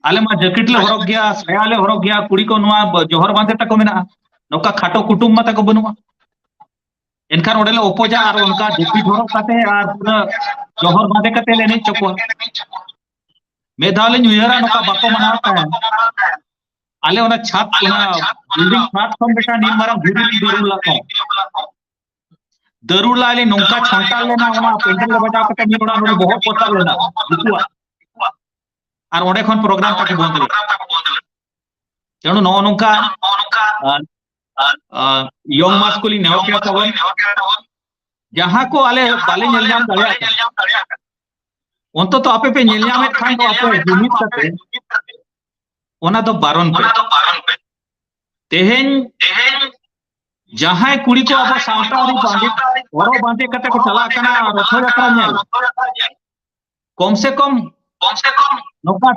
ᱟᱞᱮ ᱢᱟ ᱡᱮᱠᱮᱴ ᱞᱮ ᱦᱚᱨᱚᱜᱽ ᱜᱮᱭᱟ ᱥᱟᱭᱟ ᱞᱮ ᱦᱚᱨᱚᱜᱽ ᱜᱮᱭᱟ ᱠᱩᱲᱤ ᱠᱚ ᱱᱚᱣᱟ ᱵ- ᱡᱚᱦᱚᱨ ᱵᱟᱸᱫᱮ ᱛᱟᱠᱚ ᱢᱮᱱᱟᱜᱼᱟ ᱱᱚᱝᱠᱟ ᱠᱷᱟᱴᱚ ᱠᱩᱴᱩᱢ ᱢᱟ ᱛᱟᱠᱚ ᱵᱟᱹᱱᱩᱜᱼᱟ ᱮᱱᱠᱷᱟᱱ ᱚᱸᱰᱮ ᱞᱮ ᱚᱯᱚᱡᱟ ᱟᱨ ᱚᱱᱠᱟ ᱡᱟᱹᱯᱤᱫ ᱦᱚᱨᱚᱜ ᱠᱟᱛᱮ ᱟᱨ ᱯᱩᱨᱟᱹ ᱡᱚᱦᱚᱨ ᱵᱟᱸᱫᱮ ᱠᱟᱛᱮ ᱞᱮ ᱮᱱᱮᱡ ᱦᱚᱪᱚ ᱠᱚᱣᱟ ᱢᱤᱫ ᱫᱷᱟᱣ ᱞᱤᱧ ᱩᱭᱦᱟᱹᱨᱟ ᱱᱚᱝᱠᱟ ᱵᱟᱠᱚ ᱢᱟᱱᱟᱣ ᱛᱟᱦᱮᱸᱫ ᱟᱞᱮ ᱚᱱᱟ ᱪᱷᱟᱫᱽ ᱚᱱᱟ ᱵᱤᱞᱰᱤᱝ ᱪᱷᱟᱫᱽ ᱠᱷᱚᱱ ᱢᱤᱫᱴᱟᱝ ᱱᱤᱱ ᱢᱟᱨᱟᱝ ᱫᱷᱤᱨᱤ ᱞᱤᱧ ᱫᱩᱨᱩᱢ ᱞᱟᱜ ᱛᱟᱦᱮᱸᱫ ᱫᱟᱹᱨᱩᱲ ᱞᱟᱭ ᱞᱤᱧ ᱱᱚᱝᱠᱟ ᱪᱷᱚᱱᱴᱟᱞ ᱞᱮᱱᱟ ᱚᱱᱟ ᱯᱮᱱᱰᱮᱞ ᱨᱮ ᱵᱟᱡᱟᱣ ᱠᱟᱛᱮ ᱢᱤᱫ ᱚᱲᱟᱜ ᱱᱚᱰᱮ ᱵᱚᱦᱚᱜ ᱯᱚᱛᱟᱣ ᱞᱮᱱᱟ ᱩᱱᱠᱩᱣᱟᱜ ᱟᱨ ᱚᱸᱰᱮ ᱠᱷᱚᱱ ᱯᱨᱳᱜᱨᱟᱢ ᱛᱟᱠᱚ ᱵᱚᱱᱫ ᱞᱮᱱᱟ ᱛᱮᱱᱩ ᱱᱚᱜᱼᱚ ᱱᱚᱝᱠᱟ ᱭᱚᱝ ᱢᱟᱥ ᱠᱚ ᱞᱤᱧ ᱱᱮᱦᱚᱨ ᱠᱮᱫᱟ ᱛᱟᱵᱚᱱ ᱡᱟᱦᱟᱸ ᱠᱚ ᱟᱞᱮ ᱵᱟᱞᱮ ᱧᱮᱞ ᱧᱟᱢ ᱫᱟᱲᱮᱭᱟᱜ ᱠᱟᱱᱟ ᱚᱱᱛᱚᱛᱚ ᱟᱯᱮ ᱯᱮ ᱧᱮᱞ ᱧᱟᱢᱮᱫ ᱠᱷᱟᱱ ᱫᱚ ᱟᱯᱮ ᱡᱩᱢᱤᱫ ᱠᱟᱛᱮ ᱚᱱᱟ ᱫᱚ ᱵᱟᱨᱚᱱ ᱯᱮ ᱛᱮᱦᱮᱧ ᱡᱟᱦᱟᱸᱭ ᱠᱩᱲᱤ ᱠᱚ ᱟᱵᱚ ᱥᱟᱶᱛᱟ ᱟᱹᱨᱤ ᱵᱟᱸᱫᱮ ᱦᱚᱨᱚᱜ ᱵᱟᱸᱫᱮ ᱠᱟᱛᱮ ᱠᱚ ᱪᱟᱞᱟᱜ ᱠᱟᱱᱟ ᱨᱚᱛᱷᱚ ᱡᱟᱛᱨᱟ ᱧᱮᱞ ᱠᱚᱢ ᱥᱮ ᱠᱚᱢ ᱠᱚᱢ ᱥᱮ ᱠᱚᱢ ᱱᱚᱝᱠᱟ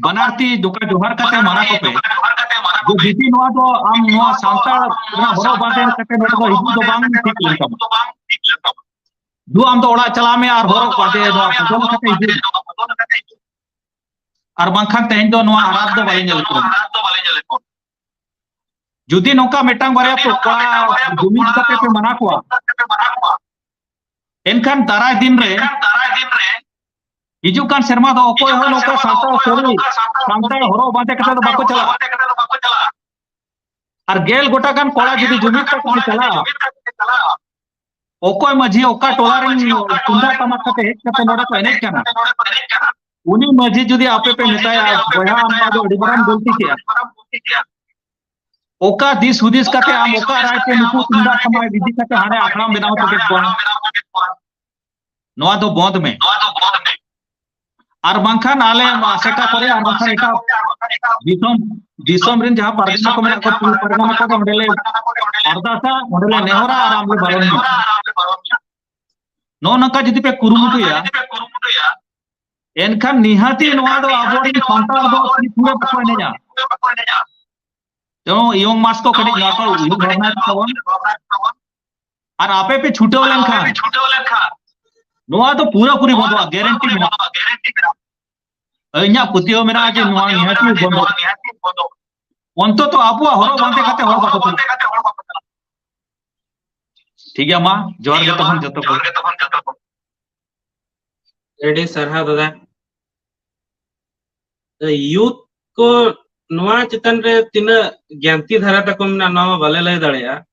ᱵᱟᱱᱟᱨ ᱛᱤ ᱫᱚᱠᱟ ᱡᱚᱦᱟᱨ ᱠᱟᱛᱮ ᱢᱟᱱᱟ ᱠᱚᱯᱮ ᱡᱮ ᱡᱩᱫᱤ ᱱᱚᱣᱟ ᱫᱚ ᱟᱢ ᱱᱚᱣᱟ ᱥᱟᱶᱛᱟ ᱨᱮᱱᱟᱜ ᱦᱚᱨᱚᱜ ᱵᱟᱸᱫᱮ ᱠᱟᱛᱮ ᱱᱚᱰᱮ ᱫᱚ ᱦᱤᱡᱩᱜ ᱫᱚ ᱵᱟᱝ ᱴᱷᱤᱠ ᱞᱮᱱ ᱛᱟᱢᱟ ᱫᱩ ᱟᱢ ᱫᱚ ᱚᱲᱟᱜ ᱪᱟᱞᱟᱜ ᱢᱮ ᱟᱨ ᱦᱚᱨᱚᱜ ᱵᱟᱸᱫᱮ ᱱᱚᱣᱟ ᱵᱚᱫᱚᱞ ᱠᱟᱛᱮ ᱦᱤᱡᱩᱜ ᱟᱨ ᱵᱟᱝᱠᱷᱟᱱ ᱛᱮᱦᱮᱧ ᱫᱚ ᱱᱚᱣᱟ ᱟᱨᱟᱫ ᱫᱚ ᱵᱟᱞᱮ ᱧᱮᱞ ᱠᱚᱣᱟ ᱡᱩᱫᱤ ᱱᱚᱝᱠᱟ ᱢᱤᱫᱴᱟᱝ ᱵᱟᱨᱭᱟ ᱯᱚᱠᱟ ᱡᱩᱢᱤᱫ ᱠᱟᱛᱮ ᱯᱮ ᱢᱟᱱᱟ ᱠᱚᱣᱟ ᱮᱱᱠᱷᱟᱱ ᱫᱟᱨᱟᱭ ᱫᱤᱱ ᱨᱮ ᱦᱤᱡᱩᱜ ᱠᱟᱱ ᱥᱮᱨᱢᱟ ᱫᱚ ᱚᱠᱚᱭ ᱦᱚᱸ ᱱᱚᱝᱠᱟ ᱥᱟᱱᱛᱟᱲ ᱥᱟᱹᱨᱤ ᱥᱟᱱᱛᱟᱲ ᱦᱚᱨᱚᱜ ᱵᱟᱸᱫᱮ ᱠᱟᱛᱮ ᱫᱚ ᱵᱟᱠᱚ ᱪᱟᱞᱟᱜᱼᱟ ᱟᱨ ᱜᱮᱞ ᱜᱚᱴᱟ ᱜᱟᱱ ᱠᱚᱲᱟ ᱡᱩᱫᱤ ᱡᱩᱢᱤᱫ ᱠᱟᱛᱮ ᱠᱚ ᱪᱟᱞᱟᱜᱼᱟ ᱚᱠᱚᱭ ᱢᱟᱹᱡᱷᱤ ᱚᱠᱟ ᱴᱚᱞᱟ ᱨᱮᱱ ᱛᱩᱢᱫᱟᱜ ᱴᱟᱢᱟᱠ ᱠᱟᱛᱮ ᱦᱮᱡ ᱠᱟᱛᱮ ᱱᱚᱰᱮ ᱠᱚ ᱮᱱᱮᱡ ᱠᱟᱱᱟ ᱩᱱᱤ ᱢᱟᱹᱡᱷᱤ ᱡᱩᱫᱤ ᱟᱯᱮ ᱯᱮ ᱢᱮᱛᱟᱭᱟ ᱵᱚᱭᱦᱟ ᱟᱢ ᱫᱚ ᱟᱹᱰᱤ ᱢᱟᱨᱟᱝ ᱜᱚᱞᱛᱤ ᱠᱮᱜᱼᱟ ᱚᱠᱟ ᱫᱤᱥ ᱦᱩᱫᱤᱥ ᱠᱟᱛᱮ ᱟᱢ ᱚᱠᱟ ᱨᱟᱭ ᱛᱮ ᱱᱩᱠᱩ ᱛᱩᱢᱫᱟᱜ ᱴᱟᱢᱟᱠ ᱤᱫᱤ ᱠᱟᱛᱮ ᱦᱟᱸᱰᱮ ᱟᱠᱷᱲᱟᱢ ᱵᱮᱱᱟᱣ ᱦᱚᱴᱚ ᱠᱮᱫ ᱠᱚᱣᱟ ᱱᱚᱣᱟ ᱫᱚ ᱵᱚᱸᱫ ᱢᱮ ᱱᱚᱣᱟ ᱫᱚ ᱵᱚᱸᱫ ᱢᱮ ᱟᱨ ᱵᱟᱝᱠᱷᱟᱱ ᱟᱞᱮ ᱟᱥᱮᱠᱟ ᱠᱚᱨᱮ ᱟᱨ ᱵᱟᱝᱠᱷᱟᱱ ᱮᱴᱟᱜ ᱫᱤᱥᱚᱢ ᱫᱤᱥᱚᱢ ᱨᱮᱱ ᱡᱟᱦᱟᱸ ᱯᱟᱨᱜᱟᱱᱟ ᱠᱚ ᱢᱮᱱᱟᱜ ᱠᱚᱣᱟ ᱯᱟᱨᱜᱟᱱᱟ ᱠᱚ ᱚᱸᱰᱮ ᱞᱮ ᱟᱨᱫᱟᱥᱟ ᱚᱸᱰᱮ ᱞᱮ ᱱᱮᱦᱚᱨᱟ ᱟᱨ ᱟᱢ ᱞᱮ ᱵᱟᱨᱚᱱ ᱢᱮᱭᱟ ᱱᱚᱜᱼᱚ ᱱᱚᱝᱠᱟ ᱡᱩᱫᱤ ᱯᱮ ᱠᱩᱨᱩᱢᱩᱴᱩᱭᱟ ᱮᱱᱠᱷᱟᱱ ᱱᱤᱦᱟᱹᱛᱤ ᱱᱚᱣᱟ ᱫᱚ ᱟᱵᱚᱨᱮᱱ ᱥᱟᱱᱛᱟᱲ ᱫᱚ ᱛᱤᱥ ᱦᱚᱸ ᱵᱟᱠᱚ ᱮᱱᱮᱡᱟ ᱮᱵᱚᱝ ᱤᱭᱚᱝ ᱢᱟᱥ ᱠᱚ ᱠᱟᱹᱴᱤᱡ ᱱᱚᱣᱟ ᱠᱚ ᱩᱭᱦᱟᱹᱨ ᱵᱷᱟᱵᱽᱱᱟᱭ ᱛᱟᱵᱚᱱ ᱟᱨ ᱟᱯᱮ ᱯᱮ ᱪᱷᱩᱴᱟᱹᱣ ᱞᱮᱱᱠᱷᱟᱱ ᱱᱚᱣᱟ ᱫᱚ ᱯᱩᱨᱟᱹ ᱯᱩᱨᱤ ᱵᱚᱱᱫᱚᱜᱼᱟ ᱜᱮᱨᱮᱱᱴᱤ ᱢᱮᱱᱟᱜᱼᱟ ᱤᱧᱟᱹᱜ ᱯᱟᱹᱛᱭᱟᱹᱣ ᱢᱮᱱᱟᱜᱼᱟ ᱡᱮ ᱱᱚᱣᱟ ᱱᱤᱦᱟᱹᱛ ᱵᱚᱱᱫᱚᱜᱼᱟ ᱚᱱᱛᱚᱛᱚ ᱟᱵᱚᱣᱟᱜ ᱦᱚᱨᱚᱜ ᱵᱟᱸᱫᱮ ᱠᱟᱛᱮ ᱦᱚᱲ ᱵᱟᱠᱚ ᱪᱟᱞᱟᱜᱼᱟ ᱴᱷᱤᱠ ᱜᱮᱭᱟ ᱢᱟ ᱡᱚᱦᱟᱨ ᱜᱮ ᱛᱚᱠᱷᱚᱱ ᱡᱚᱛᱚ ᱠᱚ ᱟᱹᱰᱤ ᱥᱟᱨᱦᱟᱣ ᱫᱟᱫᱟ ᱭᱩᱛ ᱠᱚ ᱱᱚᱣᱟ ᱪᱮᱛᱟᱱ ᱨᱮ ᱛᱤᱱᱟᱹᱜ ᱜᱮᱱᱛᱤ ᱫᱷᱟᱨᱟ ᱛᱟᱠᱚ ᱢᱮᱱᱟᱜᱼᱟ ᱱᱚᱣᱟ ᱵᱟᱞᱮ ᱞᱟᱹᱭ ᱫᱟᱲᱮᱭᱟᱜᱼᱟ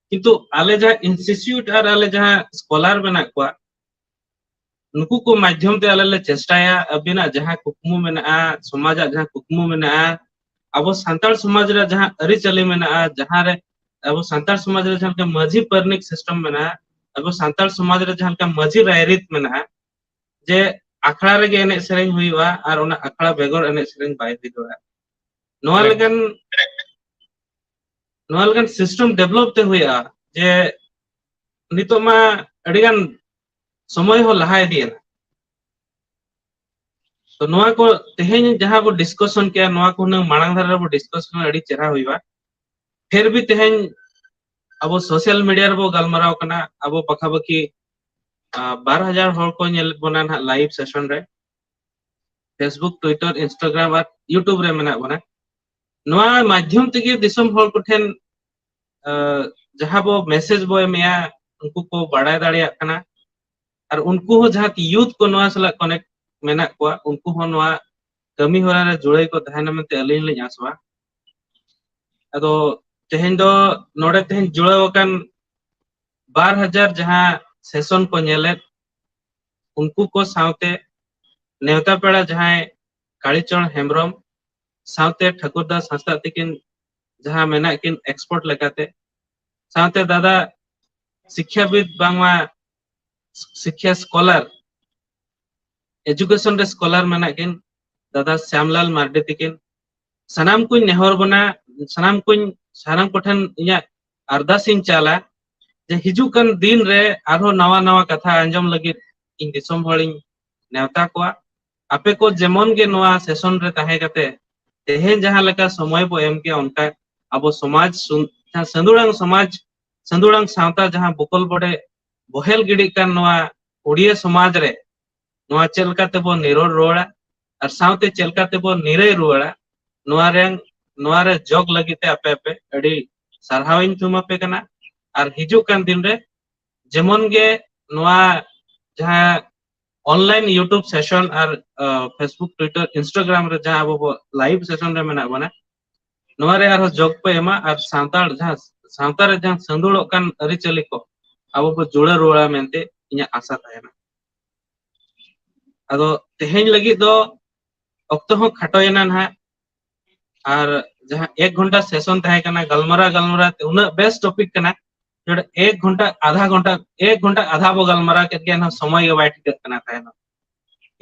ᱠᱤᱱᱛᱩ ᱟᱞᱮ ᱡᱟᱦᱟᱸ ᱤᱱᱥᱴᱤᱴᱤᱭᱩᱴ ᱟᱨ ᱟᱞᱮ ᱡᱟᱦᱟᱸ ᱥᱠᱚᱞᱟᱨ ᱢᱮᱱᱟᱜ ᱠᱚᱣᱟ ᱱᱩᱠᱩ ᱠᱚ ᱢᱟᱫᱽᱫᱷᱚᱢ ᱛᱮ ᱟᱞᱮ ᱞᱮ ᱪᱮᱥᱴᱟᱭᱟ ᱟᱹᱵᱤᱱᱟᱜ ᱡᱟᱦᱟᱸ ᱠᱩᱠᱢᱩ ᱢᱮᱱᱟᱜᱼᱟ ᱥᱚᱢᱟᱡᱟᱜ ᱡᱟᱦᱟᱸ ᱠᱩᱠᱢᱩ ᱢᱮᱱᱟᱜᱼᱟ ᱟᱵᱚ ᱥᱟᱱᱛᱟᱲ ᱥᱚᱢᱟᱡᱽ ᱨᱮ ᱡᱟᱦᱟᱸ ᱟᱹᱨᱤᱪᱟᱹᱞᱤ ᱢᱮᱱᱟᱜᱼᱟ ᱡᱟᱦᱟᱸ ᱨᱮ ᱟᱵᱚ ᱥᱟᱱᱛᱟᱲ ᱥᱚᱢᱟᱡᱽ ᱨᱮ ᱡᱟᱦᱟᱸ ᱞᱮᱠᱟ ᱢᱟᱹᱡᱷᱤ ᱯᱟᱨᱟᱱᱤᱠ ᱥᱤᱥᱴᱮᱢ ᱢᱮᱱᱟᱜᱼᱟ ᱟᱵᱚ ᱥᱟᱱᱛᱟᱲ ᱥᱚᱢᱟᱡᱽ ᱨᱮ ᱡᱟᱦᱟᱸ ᱞᱮᱠᱟ ᱢᱟᱹᱡᱷᱤ ᱨᱟᱭᱨᱤᱛ ᱢᱮᱱᱟᱜᱼᱟ ᱡᱮ ᱟᱠᱷᱲᱟ ᱨᱮᱜᱮ ᱮᱱᱮᱡ ᱥᱮᱨᱮᱧ ᱦᱩᱭᱩᱜᱼᱟ ᱟᱨ ᱚᱱᱟ ᱟᱠᱷᱲᱟ ᱵᱮᱜᱚᱨ ᱮᱱᱮᱡ ᱥᱮᱨᱮᱧ ᱵᱟᱭ ᱦᱩᱭ ᱫᱟᱲᱮᱭᱟᱜᱼᱟ ᱱᱚᱣᱟ ᱮᱠᱫᱚᱢ ᱞᱮᱠᱟᱱ ᱱᱚᱣᱟ ᱞᱮᱠᱟᱱ ᱥᱤᱥᱴᱮᱢ ᱰᱮᱵᱷᱞᱚᱯ ᱛᱮ ᱦᱩᱭᱩᱜᱼᱟ ᱡᱮ ᱱᱤᱛᱚᱜ ᱢᱟ ᱟᱹᱰᱤ ᱜᱟᱱ ᱥᱚᱢᱚᱭ ᱦᱚᱸ ᱞᱟᱦᱟ ᱤᱫᱤᱭᱮᱱᱟ ᱛᱚ ᱱᱚᱣᱟ ᱠᱚ ᱛᱮᱦᱮᱧ ᱡᱟᱦᱟᱸ ᱵᱚ ᱰᱤᱥᱠᱚᱥᱚᱱ ᱠᱮᱭᱟ ᱱᱚᱣᱟ ᱠᱚ ᱦᱩᱱᱟᱹᱝ ᱢᱟᱲᱟᱝ ᱫᱷᱟᱨᱟ ᱨᱮᱵᱚ ᱰᱤᱥᱠᱚᱥᱚᱱ ᱟᱹᱰᱤ ᱪᱮᱦᱨᱟ ᱦᱩᱭᱩᱜᱼᱟ ᱯᱷᱤᱨ ᱵᱷᱤ ᱛᱮᱦᱮᱧ ᱟᱵᱚ ᱥᱳᱥᱟᱞ ᱢᱤᱰᱤᱭᱟ ᱨᱮᱵᱚ ᱜᱟᱞᱢᱟᱨᱟᱣ ᱠᱟᱱᱟ ᱟᱵᱚ ᱯᱟᱠᱷᱟ ᱯᱟᱠᱷᱤ ᱵᱟᱨ ᱦᱟᱡᱟᱨ ᱦᱚᱲ ᱠᱚ ᱧᱮᱞ ᱵᱚᱱᱟ ᱱᱟᱦᱟᱜ ᱞᱟᱭᱤᱵᱷ ᱥᱮᱥᱚᱱ ᱨᱮ ᱯᱷᱮᱥᱵᱩᱠ ᱴᱩᱭᱴᱟᱨ ᱤᱱᱥᱴᱟᱜᱨᱟᱢ ᱟᱨ ᱤᱭᱩᱴᱩᱵᱽ ᱨᱮ ᱢᱮᱱᱟᱜ ᱵᱚᱱᱟ ᱱᱚᱣᱟ ᱢᱟᱫᱽᱫᱷᱚᱢ ᱛᱮᱜᱮ ᱫᱤᱥᱚᱢ ᱦᱚᱲ ᱠᱚᱴᱷᱮᱱ ᱡᱟᱦᱟᱸ ᱵᱚ ᱢᱮᱥᱮᱡᱽ ᱵᱚ ᱮᱢᱮᱜᱼᱟ ᱩᱱᱠᱩ ᱠᱚ ᱵᱟᱲᱟᱭ ᱫᱟᱲᱮᱭᱟᱜ ᱠᱟᱱᱟ ᱟᱨ ᱩᱱᱠᱩ ᱦᱚᱸ ᱡᱟᱦᱟᱸ ᱭᱩᱛᱷ ᱠᱚ ᱱᱚᱣᱟ ᱥᱟᱞᱟᱜ ᱠᱚᱱᱮᱠᱴ ᱢᱮᱱᱟᱜ ᱠᱚᱣᱟ ᱩᱱᱠᱩ ᱦᱚᱸ ᱱᱚᱣᱟ ᱠᱟᱹᱢᱤ ᱦᱚᱨᱟ ᱨᱮ ᱡᱩᱲᱟᱹᱭ ᱠᱚ ᱛᱟᱦᱮᱱᱟ ᱢᱮᱱᱛᱮ ᱟᱹᱞᱤᱧ ᱞᱤᱧ ᱟᱥᱚᱜᱼᱟ ᱟᱫᱚ ᱛᱮᱦᱮᱧ ᱫᱚ ᱱᱚᱰᱮ ᱛᱮᱦᱮᱧ ᱡᱩᱲᱟᱹᱣ ᱟᱠᱟᱱ ᱵᱟᱨ ᱦᱟᱡᱟᱨ ᱡᱟᱦᱟᱸ ᱥᱮᱥᱚᱱ ᱠᱚ ᱧᱮᱞᱮᱫ ᱩᱱᱠᱩ ᱠᱚ ᱥᱟᱶᱛᱮ ᱱᱮᱣᱛᱟ ᱯᱮᱲᱟ ᱡᱟᱦᱟᱸᱭ ᱠᱟᱲᱤᱪᱚᱨ ᱦᱮᱢᱵᱨᱚᱢ ᱥᱟᱶᱛᱮ ᱴᱷᱟᱹᱠᱩᱨ ᱫᱟᱥ ᱦᱟᱸᱥᱫᱟᱜ ᱛᱤᱠᱤᱱ ᱡᱟᱦᱟᱸ ᱢᱮᱱᱟᱜ ᱠᱤᱱ ᱮᱠᱥᱯᱚᱨᱴ ᱞᱮᱠᱟᱛᱮ ᱥᱟᱶᱛᱮ ᱫᱟᱫᱟ ᱥᱤᱠᱠᱷᱟᱵᱤᱫ ᱵᱟᱝᱢᱟ ᱥᱤᱠᱷᱭᱟ ᱥᱠᱚᱞᱟᱨ ᱮᱡᱩᱠᱮᱥᱚᱱ ᱨᱮ ᱥᱠᱚᱞᱟᱨ ᱢᱮᱱᱟᱜ ᱠᱤᱱ ᱫᱟᱫᱟ ᱥᱭᱟᱢᱞᱟᱞ ᱢᱟᱨᱰᱤ ᱛᱤᱠᱤᱱ ᱥᱟᱱᱟᱢ ᱠᱩᱧ ᱱᱮᱦᱚᱨ ᱵᱚᱱᱟ ᱥᱟᱱᱟᱢ ᱠᱩᱧ ᱥᱟᱱᱟᱢ ᱠᱚᱴᱷᱮᱱ ᱤᱧᱟᱹᱜ ᱟᱨᱫᱟᱥ ᱤᱧ ᱪᱟᱞᱟ ᱡᱮ ᱦᱤᱡᱩᱜ ᱠᱟᱱ ᱫᱤᱱ ᱨᱮ ᱟᱨᱦᱚᱸ ᱱᱟᱣᱟ ᱱᱟᱣᱟ ᱠᱟᱛᱷᱟ ᱟᱸᱡᱚᱢ ᱞᱟᱹᱜᱤᱫ ᱤᱧ ᱫᱤᱥᱚᱢ ᱦᱚᱲᱤᱧ ᱱᱮᱣᱛᱟ ᱠᱚᱣᱟ ᱟᱯᱮ ᱠᱚ ᱡᱮᱢᱚᱱ ᱜᱮ ᱱᱚᱣᱟ ᱥᱮᱥᱚᱱ ᱨᱮ ᱛᱟᱦᱮᱸ ᱠᱟᱛᱮ ᱛᱮᱦᱮᱧ ᱡᱟᱦᱟᱸ ᱞᱮᱠᱟ ᱥᱚᱢᱚᱭ ᱵᱚ ᱮᱢ ᱠᱮᱭᱟ ᱚᱱᱠᱟ ᱟᱵᱚ ᱥᱚᱢᱟᱡᱽ ᱥᱟᱹᱫᱩᱲᱟᱝ ᱥᱚᱢᱟᱡᱽ ᱥᱟᱹᱫᱩᱲᱟᱝ ᱥᱟᱶᱛᱟ ᱡᱟᱦᱟᱸ ᱵᱚᱠᱚᱞ ᱵᱚᱰᱮ ᱵᱚᱦᱮᱞ ᱜᱤᱰᱤᱜ ᱠᱟᱱ ᱱᱚᱣᱟ ᱩᱲᱤᱭᱟᱹ ᱥᱚᱢᱟᱡᱽ ᱨᱮ ᱱᱚᱣᱟ ᱪᱮᱫ ᱞᱮᱠᱟ ᱛᱮᱵᱚᱱ ᱱᱤᱨᱚᱲ ᱨᱩᱣᱟᱹᱲᱟ ᱟᱨ ᱥᱟᱶᱛᱮ ᱪᱮᱫ ᱞᱮᱠᱟ ᱛᱮᱵᱚᱱ ᱱᱤᱨᱟᱹᱭ ᱨᱩᱣᱟᱹᱲᱟ ᱱᱚᱣᱟ ᱨᱮ ᱱᱚᱣᱟ ᱨᱮ ᱡᱚᱜᱽ ᱞᱟᱹᱜᱤᱫ ᱛᱮ ᱟᱯᱮ ᱟᱯᱮ ᱟᱹᱰᱤ ᱥᱟᱨᱦᱟᱣ ᱤᱧ ᱛᱷᱩᱢ ᱟᱯᱮ ᱠᱟᱱᱟ ᱟᱨ ᱦᱤᱡᱩᱜ ᱠᱟᱱ ᱫᱤᱱ ᱨᱮ ᱡᱮᱢᱚᱱ ᱜᱮ ᱱᱚᱣᱟ ᱡᱟᱦᱟᱸ ᱚᱱᱞᱟᱭᱤᱱ ᱤᱭᱩᱴᱩᱵᱽ ᱥᱮᱥᱚᱱ ᱟᱨ ᱯᱷᱮᱥᱵᱩᱠ ᱴᱩᱭᱴᱟᱨ ᱤᱱᱥᱴᱟᱜᱨᱟᱢ ᱨᱮ ᱡᱟᱦᱟᱸ ᱟᱵᱚ ᱵᱚ ᱞᱟᱭᱤᱵᱷ ᱥᱮᱥᱚᱱ ᱨᱮ ᱢᱮᱱᱟᱜ ᱵᱚᱱᱟ ᱱᱚᱣᱟ ᱨᱮ ᱟᱨᱦᱚᱸ ᱡᱚᱜᱽ ᱯᱮ ᱮᱢᱟ ᱟᱨ ᱥᱟᱱᱛᱟᱲ ᱡᱟᱦᱟᱸ ᱥᱟᱶᱛᱟ ᱨᱮ ᱡᱟᱦᱟᱸ ᱥᱟᱺᱫᱩᱲᱚᱜ ᱠᱟᱱ ᱟᱹᱨᱤᱪᱟᱹᱞᱤ ᱠᱚ ᱟᱵᱚ ᱵᱚ ᱡᱩᱲᱟᱹ ᱨᱩᱣᱟᱹᱲᱟ ᱢᱮᱱᱛᱮ ᱤᱧᱟᱹᱜ ᱟᱥᱟ ᱛᱟᱦᱮᱱᱟ ᱟᱫᱚ ᱛᱮᱦᱮᱧ ᱞᱟᱹᱜᱤᱫ ᱫᱚ ᱚᱠᱛᱚ ᱦᱚᱸ ᱠᱷᱟᱴᱚᱭᱮᱱᱟ ᱱᱟᱦᱟᱜ ᱟᱨ ᱡᱟᱦᱟᱸ ᱮᱠ ᱜᱷᱚᱱᱴᱟ ᱥᱮᱥᱚᱱ ᱛᱟᱦᱮᱸ ᱠᱟᱱᱟ ᱜᱟᱞᱢᱟᱨᱟᱣ ᱜᱟᱞᱢᱟᱨᱟᱣ ᱛᱮ ᱩᱱᱟᱹᱜ ᱵᱮᱥ ᱴᱚᱯᱤᱠ ᱠᱟᱱᱟ ᱱᱚᱰᱮ ᱮᱠ ᱜᱷᱚᱱᱴᱟ ᱟᱫᱷᱟ ᱜᱷᱚᱱᱴᱟ ᱮᱠ ᱜᱷᱚᱱᱴᱟ ᱟᱫᱷᱟ ᱵᱚ ᱜᱟᱞᱢᱟᱨᱟᱣ ᱠᱮᱫ ᱜᱮᱭᱟ ᱮᱱᱦᱚᱸ ᱥᱚᱢᱚᱭ ᱜᱮ ᱵᱟᱭ ᱴᱷᱤᱠᱟᱹᱜ ᱠᱟᱱᱟ ᱛᱟᱦᱮᱱᱚᱜ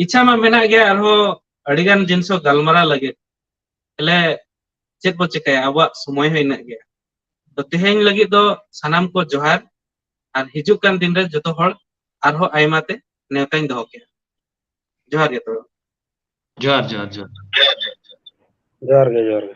ᱤᱪᱪᱷᱟ ᱢᱟ ᱢᱮᱱᱟᱜ ᱜᱮᱭᱟ ᱟᱨᱦᱚᱸ ᱟᱹᱰᱤᱜᱟᱱ ᱡᱤᱱᱤᱥ ᱦᱚᱸ ᱜᱟᱞᱢᱟᱨᱟᱣ ᱞᱟᱹᱜᱤᱫ ᱛᱟᱦᱚᱞᱮ ᱪᱮᱫ ᱵᱚ ᱪᱮᱠᱟᱭᱟ ᱟᱵᱚᱣᱟᱜ ᱥᱚᱢᱚᱭ ᱦᱚᱸ ᱤᱱᱟᱹᱜ ᱜᱮᱭᱟ ᱛᱚ ᱛᱮᱦᱮᱧ ᱞᱟᱹᱜᱤᱫ ᱫᱚ ᱥᱟᱱᱟᱢ ᱠᱚ ᱡᱚᱦᱟᱨ ᱟᱨ ᱦᱤᱡᱩᱜ ᱠᱟᱱ ᱫᱤᱱ ᱨᱮ ᱡᱚᱛᱚ ᱦᱚᱲ ᱟᱨᱦᱚᱸ ᱟᱭᱢᱟ ᱛᱮ ᱱᱮᱣᱛᱟᱧ ᱫᱚᱦᱚ ᱠᱮᱫᱼᱟ ᱡᱚᱦᱟᱨ ᱜᱮ ᱛᱚᱵᱮ ᱡᱚᱦᱟᱨ ᱡᱚᱦᱟᱨ ᱡᱚᱦᱟᱨ ᱡᱚᱦᱟᱨ ᱜᱮ ᱡᱚᱦᱟᱨ ᱜᱮ